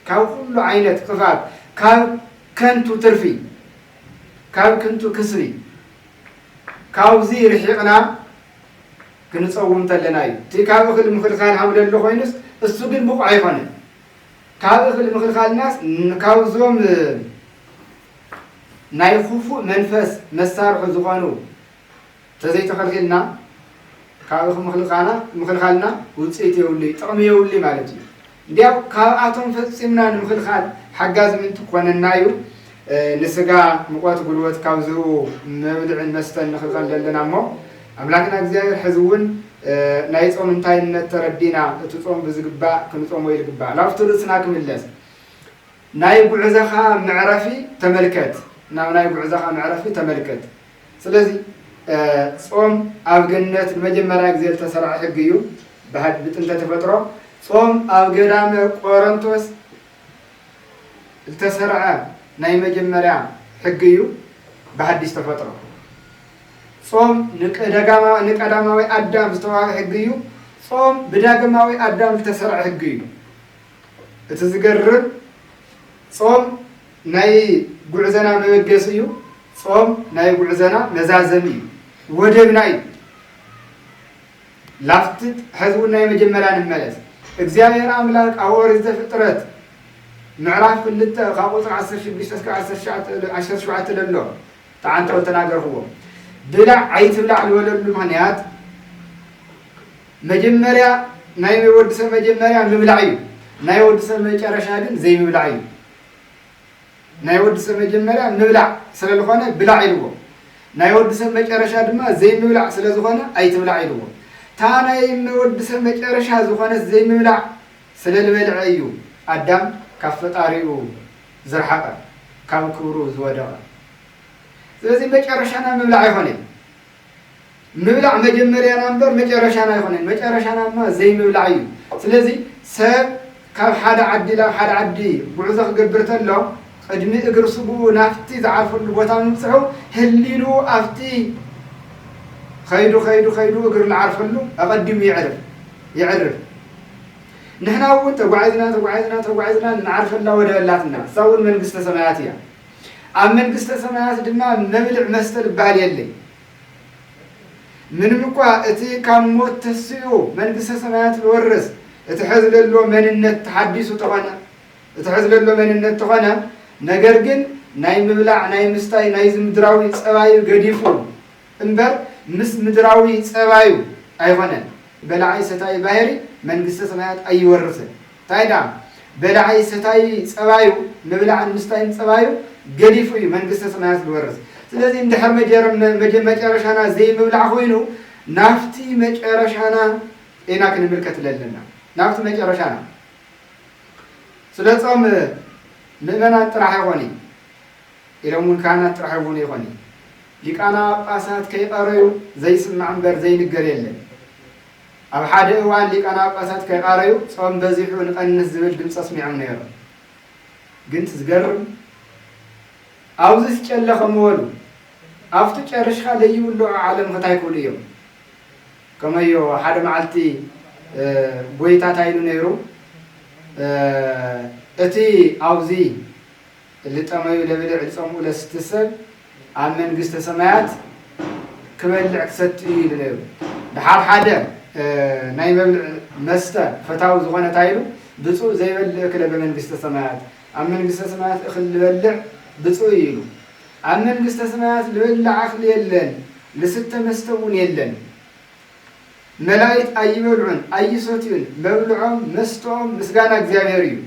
ካብ ኩሉ ዓይነት ክፍኣት ካብ ከንቱ ትርፊ ካብ ክንቱ ክስሪ ካብዚ ርሒቕና ክንጸውም ተለና እዩ እቲ ካብ እኽል ምኽልካል ሃምለሎ ኮይኑስ እሱ ግን ብቑዕ ኣይኮነን ካብ እኽል ምኽልካልናስ ካብዞም ናይ ኹፉእ መንፈስ መሳርሑ ዝኾኑ ተዘይተኸልኪልና ካብ እኽምኽልካና ምኽልካልና ውጽኢት የብሉይ ጥቕሚ የብሉይ ማለት እዩ እንዲያው ካብኣቶም ፈጺምና ንምኽልኻል ሓጋዚ ምእንቲ ክኾነና እዩ፣ ንስጋ ምቖት ጉልበት ካብ ዝህቡ መብልዕን መስተን ንኽልከል ዘለና እሞ፣ ኣምላክና እግዚኣብሔር ሕዚ እውን ናይ ጾም እንታይነት ተረዲእና እቲ ጾም ብዝግባእ ክንጾሞ ይልግባእ፣ ላብቲ ርእስና ክምለስ። ናይ ጉዕዘኻ መዕረፊ ተመልከት ናብ ናይ ጉዕዘኻ መዕረፊ ተመልከት ስለዚ ጾም ኣብ ገነት ንመጀመርያ ግዜ ዝተሰርዐ ሕጊ እዩ ብሃድ ብጥንተ ተፈጥሮ ጾም ኣብ ገዳመ ቆረንቶስ ዝተሰርዐ ናይ መጀመርያ ሕጊ እዩ ብሃዲስ ተፈጥሮ ጾም ንቀዳማዊ ኣዳም ዝተዋህበ ሕጊ እዩ ጾም ብዳግማዊ ኣዳም ዝተሰርዐ ሕጊ እዩ እቲ ዝገርም ጾም ናይ ጉዕዘና መበገሲ እዩ። ጾም ናይ ጉዕዘና መዛዘሚ እዩ። ወደብና እዩ። ላፍትት ሕዚ እውን ናይ መጀመርያ ንመለስ እግዚኣብሔር ኣምላክ ኣብ ኦሪት ዘፍጥረት ምዕራፍ ክልተ ካብ ቁፅሪ 16 እስከ 17 ለሎ ተዓንተው ተናገርክዎ ብላዕ ኣይትብላዕ ዝበለሉ ምክንያት መጀመርያ ናይ ወዲ ሰብ መጀመርያ ምብላዕ እዩ ናይ ወዲ ሰብ መጨረሻ ግን ዘይምብላዕ እዩ ናይ ወዲ ሰብ መጀመርያ ምብላዕ ስለ ዝኾነ ብላዕ ኢልዎ ናይ ወዲ ሰብ መጨረሻ ድማ ዘይምብላዕ ስለ ዝኾነ ኣይትብላዕ ኢልዎ እታ ናይ ወዲ ሰብ መጨረሻ ዝኾነት ዘይምብላዕ ስለ ልበልዐ እዩ ኣዳም ካብ ፈጣሪኡ ዝርሓቐ ካብ ክብሩ ዝወደቐ ስለዚ መጨረሻና ምብላዕ ኣይኾነይ ምብላዕ መጀመርያና እምበር መጨረሻና ኣይኮነን። መጨረሻና ድማ ዘይምብላዕ እዩ። ስለዚ ሰብ ካብ ሓደ ዓዲ ናብ ሓደ ዓዲ ጉዕዞ ክገብር ተሎ ቅድሚ እግር ስጉኡ ናብቲ ዝዓርፈሉ ቦታ ምብጽሑ ህሊንኡ ኣብቲ ከይዱ ከይዱ ከይዱ እግር ልዓርፈሉ ኣቐዲሙ የዕርፍ የዕርፍ። ንሕና እውን ተጓዒዝና ተጓዒዝና ተጓዒዝና ንዓርፈላ ወደብ ኣላትና። እሳ እውን መንግስተ ሰማያት እያ። ኣብ መንግስተ ሰማያት ድማ መብልዕ መስተ ልበሃል የለይ። ምንም እኳ እቲ ካብ ሞት ተስኡ መንግስተ ሰማያት ልወርስ እቲ ሐዚ ለሎ መንነት ተሓዲሱ ተኾነ እቲ ሐዚ ለሎ መንነት ተኾነ ነገር ግን ናይ ምብላዕ ናይ ምስታይ ናይዚ ምድራዊ ፀባዩ ገዲፉ እምበር ምስ ምድራዊ ፀባዩ ኣይኾነን። በላዒ ሰታዪ ባህሪ መንግስተ ሰማያት ኣይወርስን። ታይ ድኣ በላዒ ሰታዪ ፀባዩ ምብላዕን ምስታይን ፀባዩ ገዲፉ እዩ መንግስተ ስማያት ዝወርስ ስለዚ እንድሕር መጨረሻና ዘይምብላዕ ኮይኑ ናፍቲ መጨረሻና ኢና ክንምልከት ለለና ናፍቲ መጨረሻና ስለ ፆም ምእመናን ጥራሕ ኣይኾን እዩ ኢሎም እውን ካህናት ጥራሕ ይኹኑ ይኾን እዩ ሊቃና ጳጳሳት ከይቀረዩ ዘይስማዕ እምበር ዘይንገር የለን ኣብ ሓደ እዋን ሊቀናጳሳት ከይቓረዩ ጾም በዚሑ ንቐንስ ዝብል ድምጺ ኣስሚዖም ነይሮም። ግን እቲ ዝገርም ኣውዚስ ጨለ ከምወሉ ኣፍቱ ጨርሽካ ለይብልዑ ዓለም ክታይ ክብሉ እዮም። ከመዮ ሓደ መዓልቲ ጎይታ ታይ ኢሉ ነይሩ እቲ ኣውዚ እሊ ጠመዩ ለብልዕ ጸምኡ ለስቲ ሰብ ኣብ መንግስተ ሰማያት ክበልዕ ክሰቲ እዩ ኢሉ ነይሩ። ደሓር ሓደ ናይ መብልዕ መስተ ፈታዊ ዝኾነ ታይ ኢሉ ብጹእ ዘይበልዕ እክለ በመንግስተ ሰማያት ኣብ መንግስተ ሰማያት እክል ልበልዕ ብጹእ እዩ ኢሉ። ኣብ መንግስተ ሰማያት ልበልዕ ኣክሊ የለን ልስተ መስተ እውን የለን። መላኢት ኣይበልዑን ኣይሰትዩን መብልዖም መስተኦም ምስጋና እግዚኣብሔር እዩ።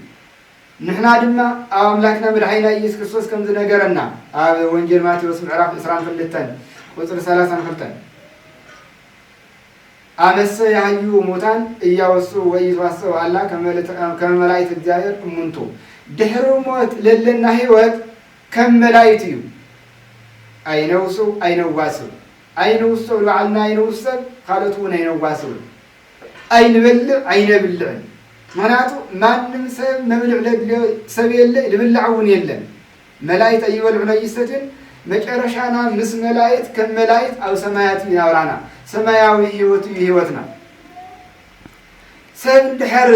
ንሕና ድማ ኣብ ኣምላክና መድሓኒና ኢየሱስ ክርስቶስ ከም ዝነገረና ኣብ ወንጌል ማቴዎስ ምዕራፍ ዕስራን ክልተን ቁጽሪ ሰላሳን ክልተን ኣመሰ ያህዩ ሙታን እያወሱ ወኢይትዋሰው ኣላ ከመ መላእክት እግዚኣብሔር እሙንቱ ድሕሪ ሞት ለለና ህይወት ከም መላእክት እዩ ኣይነውሱ ኣይነዋስው ኣይንውሰው ንባዕልና ኣይንውሰብ ካልኦት እውን ኣይነዋስውን ኣይንበልዕ ኣይነብልዕን ምክንያቱ ማንም ሰብ መብልዕ ለድልዮ ሰብ የለ ልብላዕ እውን የለን መላይት ኣይበልዑን ኣይሰትዩን መጨረሻና ምስ መላይት ከም መላይት ኣብ ሰማያት እዩ ናብራና ሰማያዊ ህይወት እዩ ህይወትና ሰብ እንድሕር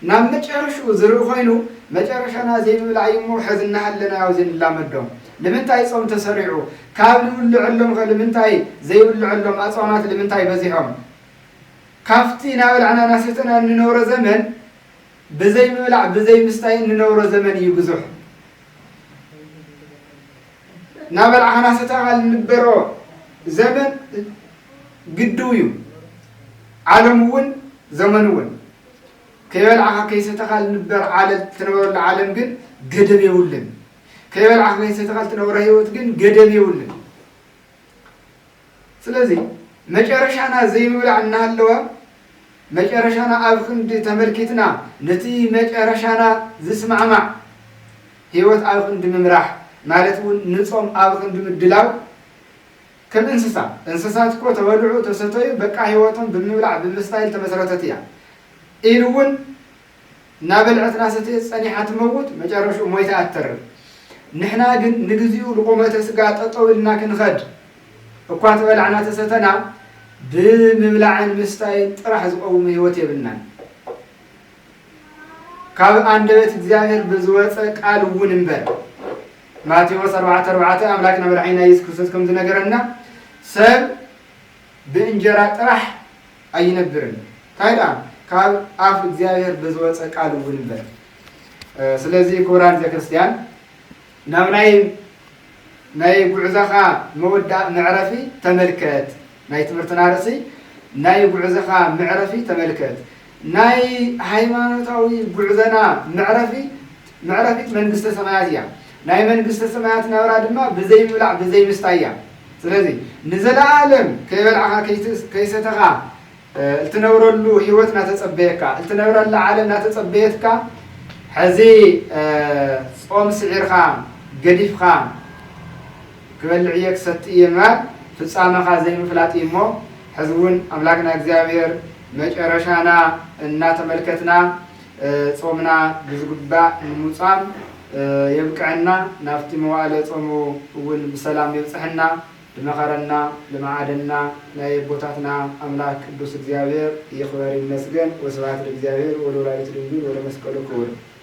ናብ መጨረሽኡ ዝርኢ ኮይኑ መጨረሻና ዘይምብላዕ እዩ እሞ ሕዚ እናሃለና ያው ዘይንላመዶም ልምንታይ ጾም ተሰሪዑ ካብ ንብልዐሎም ከ ልምንታይ ዘይብልዐሎም ኣጽዋማት ልምንታይ በዚሖም ካብቲ እናበላዕና እናሰተና እንነብሮ ዘመን ብዘይ ምብላዕ ብዘይ ምስታይ እንነብሮ ዘመን እዩ ብዙሕ እናበላዕካ እናሰተኻ እንበሮ ዘመን ግድው እዩ ዓለም እውን ዘመን እውን ከይበላዕካ ከይሰተኻ ልንበር ዓለም ትነበረሉ ዓለም ግን ገደብ የብሉን ከይበላዕካ ከይሰተኻ ልትነብሮ ህይወት ግን ገደብ የብሉን ስለዚ መጨረሻና ዘይምብላዕ እናሃለወ መጨረሻና ኣብ ክንዲ ተመልኪትና ነቲ መጨረሻና ዝስማዕማዕ ህይወት ኣብ ክንዲ ምምራሕ ማለት እውን ንፆም ኣብ ክንዲ ምድላው ከም እንስሳ እንስሳት እኮ ተበልዑ ተሰተዩ በቃ ህይወቶም ብምብላዕ ብምስታይል ተመስረተት እያ ኢሉ እውን እናበልዐት እናሰተየት ጸኒሓ ትመውት፣ መጨረሽኡ ሞይታ እያ ትተርፍ። ንሕና ግን ንግዜኡ ልቑመተ ስጋ ጠጠው ኢልና ክንኸድ እኳ ተበላዕና ተሰተና ብምብላዕን ምስታይን ጥራሕ ዝቐውም ሕይወት የብልናን። ካብ ኣንደበት እግዚኣብሔር ብዝወጸ ቃል እውን እምበር። ማቴዎስ ኣርባዕተ ኣርባዕተ ኣምላክና መድሓኒና ኢየሱስ ክርስቶስ ከም ዝነገረና ሰብ ብእንጀራ ጥራሕ ኣይነብርን ታይ ድኣ ካብ ኣፍ እግዚኣብሔር ብዝወፀ ቃል እውን እምበር ስለዚ ክቡራን ህዝበ ክርስትያን ናብ ናይ ናይ ጉዕዘኻ መወዳእ መዕረፊ ተመልከት ናይ ትምህርትና ርእሲ ናይ ጉዕዘኻ መዕረፊ ተመልከት ናይ ሃይማኖታዊ ጉዕዘና መዕረፊ መዕረፊት መንግስተ ሰማያት እያ ናይ መንግስተ ሰማያት ናብራ ድማ ብዘይ ምብላዕ ብዘይ ምስታይ እያ ስለዚ ንዘለኣለም ከይበላዕኻ ከይሰተኻ እትነብረሉ ህይወት እናተጸበየካ፣ እትነብረላ ዓለም እናተጸበየትካ፣ ሕዚ ጾም ስዒርካ ገዲፍካ ክበልዕ እየ ክሰቲ እየ ምባል ፍጻመኻ ዘይምፍላጥ እዩ እሞ ሕዚ እውን ኣምላክና እግዚኣብሔር መጨረሻና እናተመልከትና ጾምና ብዝግባእ ንምጻም የብቅዐና ናብቲ መዋእለ ጾሙ እውን ብሰላም የብጽሐና ድመኸረና ልምዓደና ናይ የቦታትና ኣምላክ ቅዱስ እግዚኣብሔር ይክበር ይመስገን ወስብሃት ለእግዚኣብሔር ወለወላዲቱ ድንግል ወለመስቀሉ ክቡር።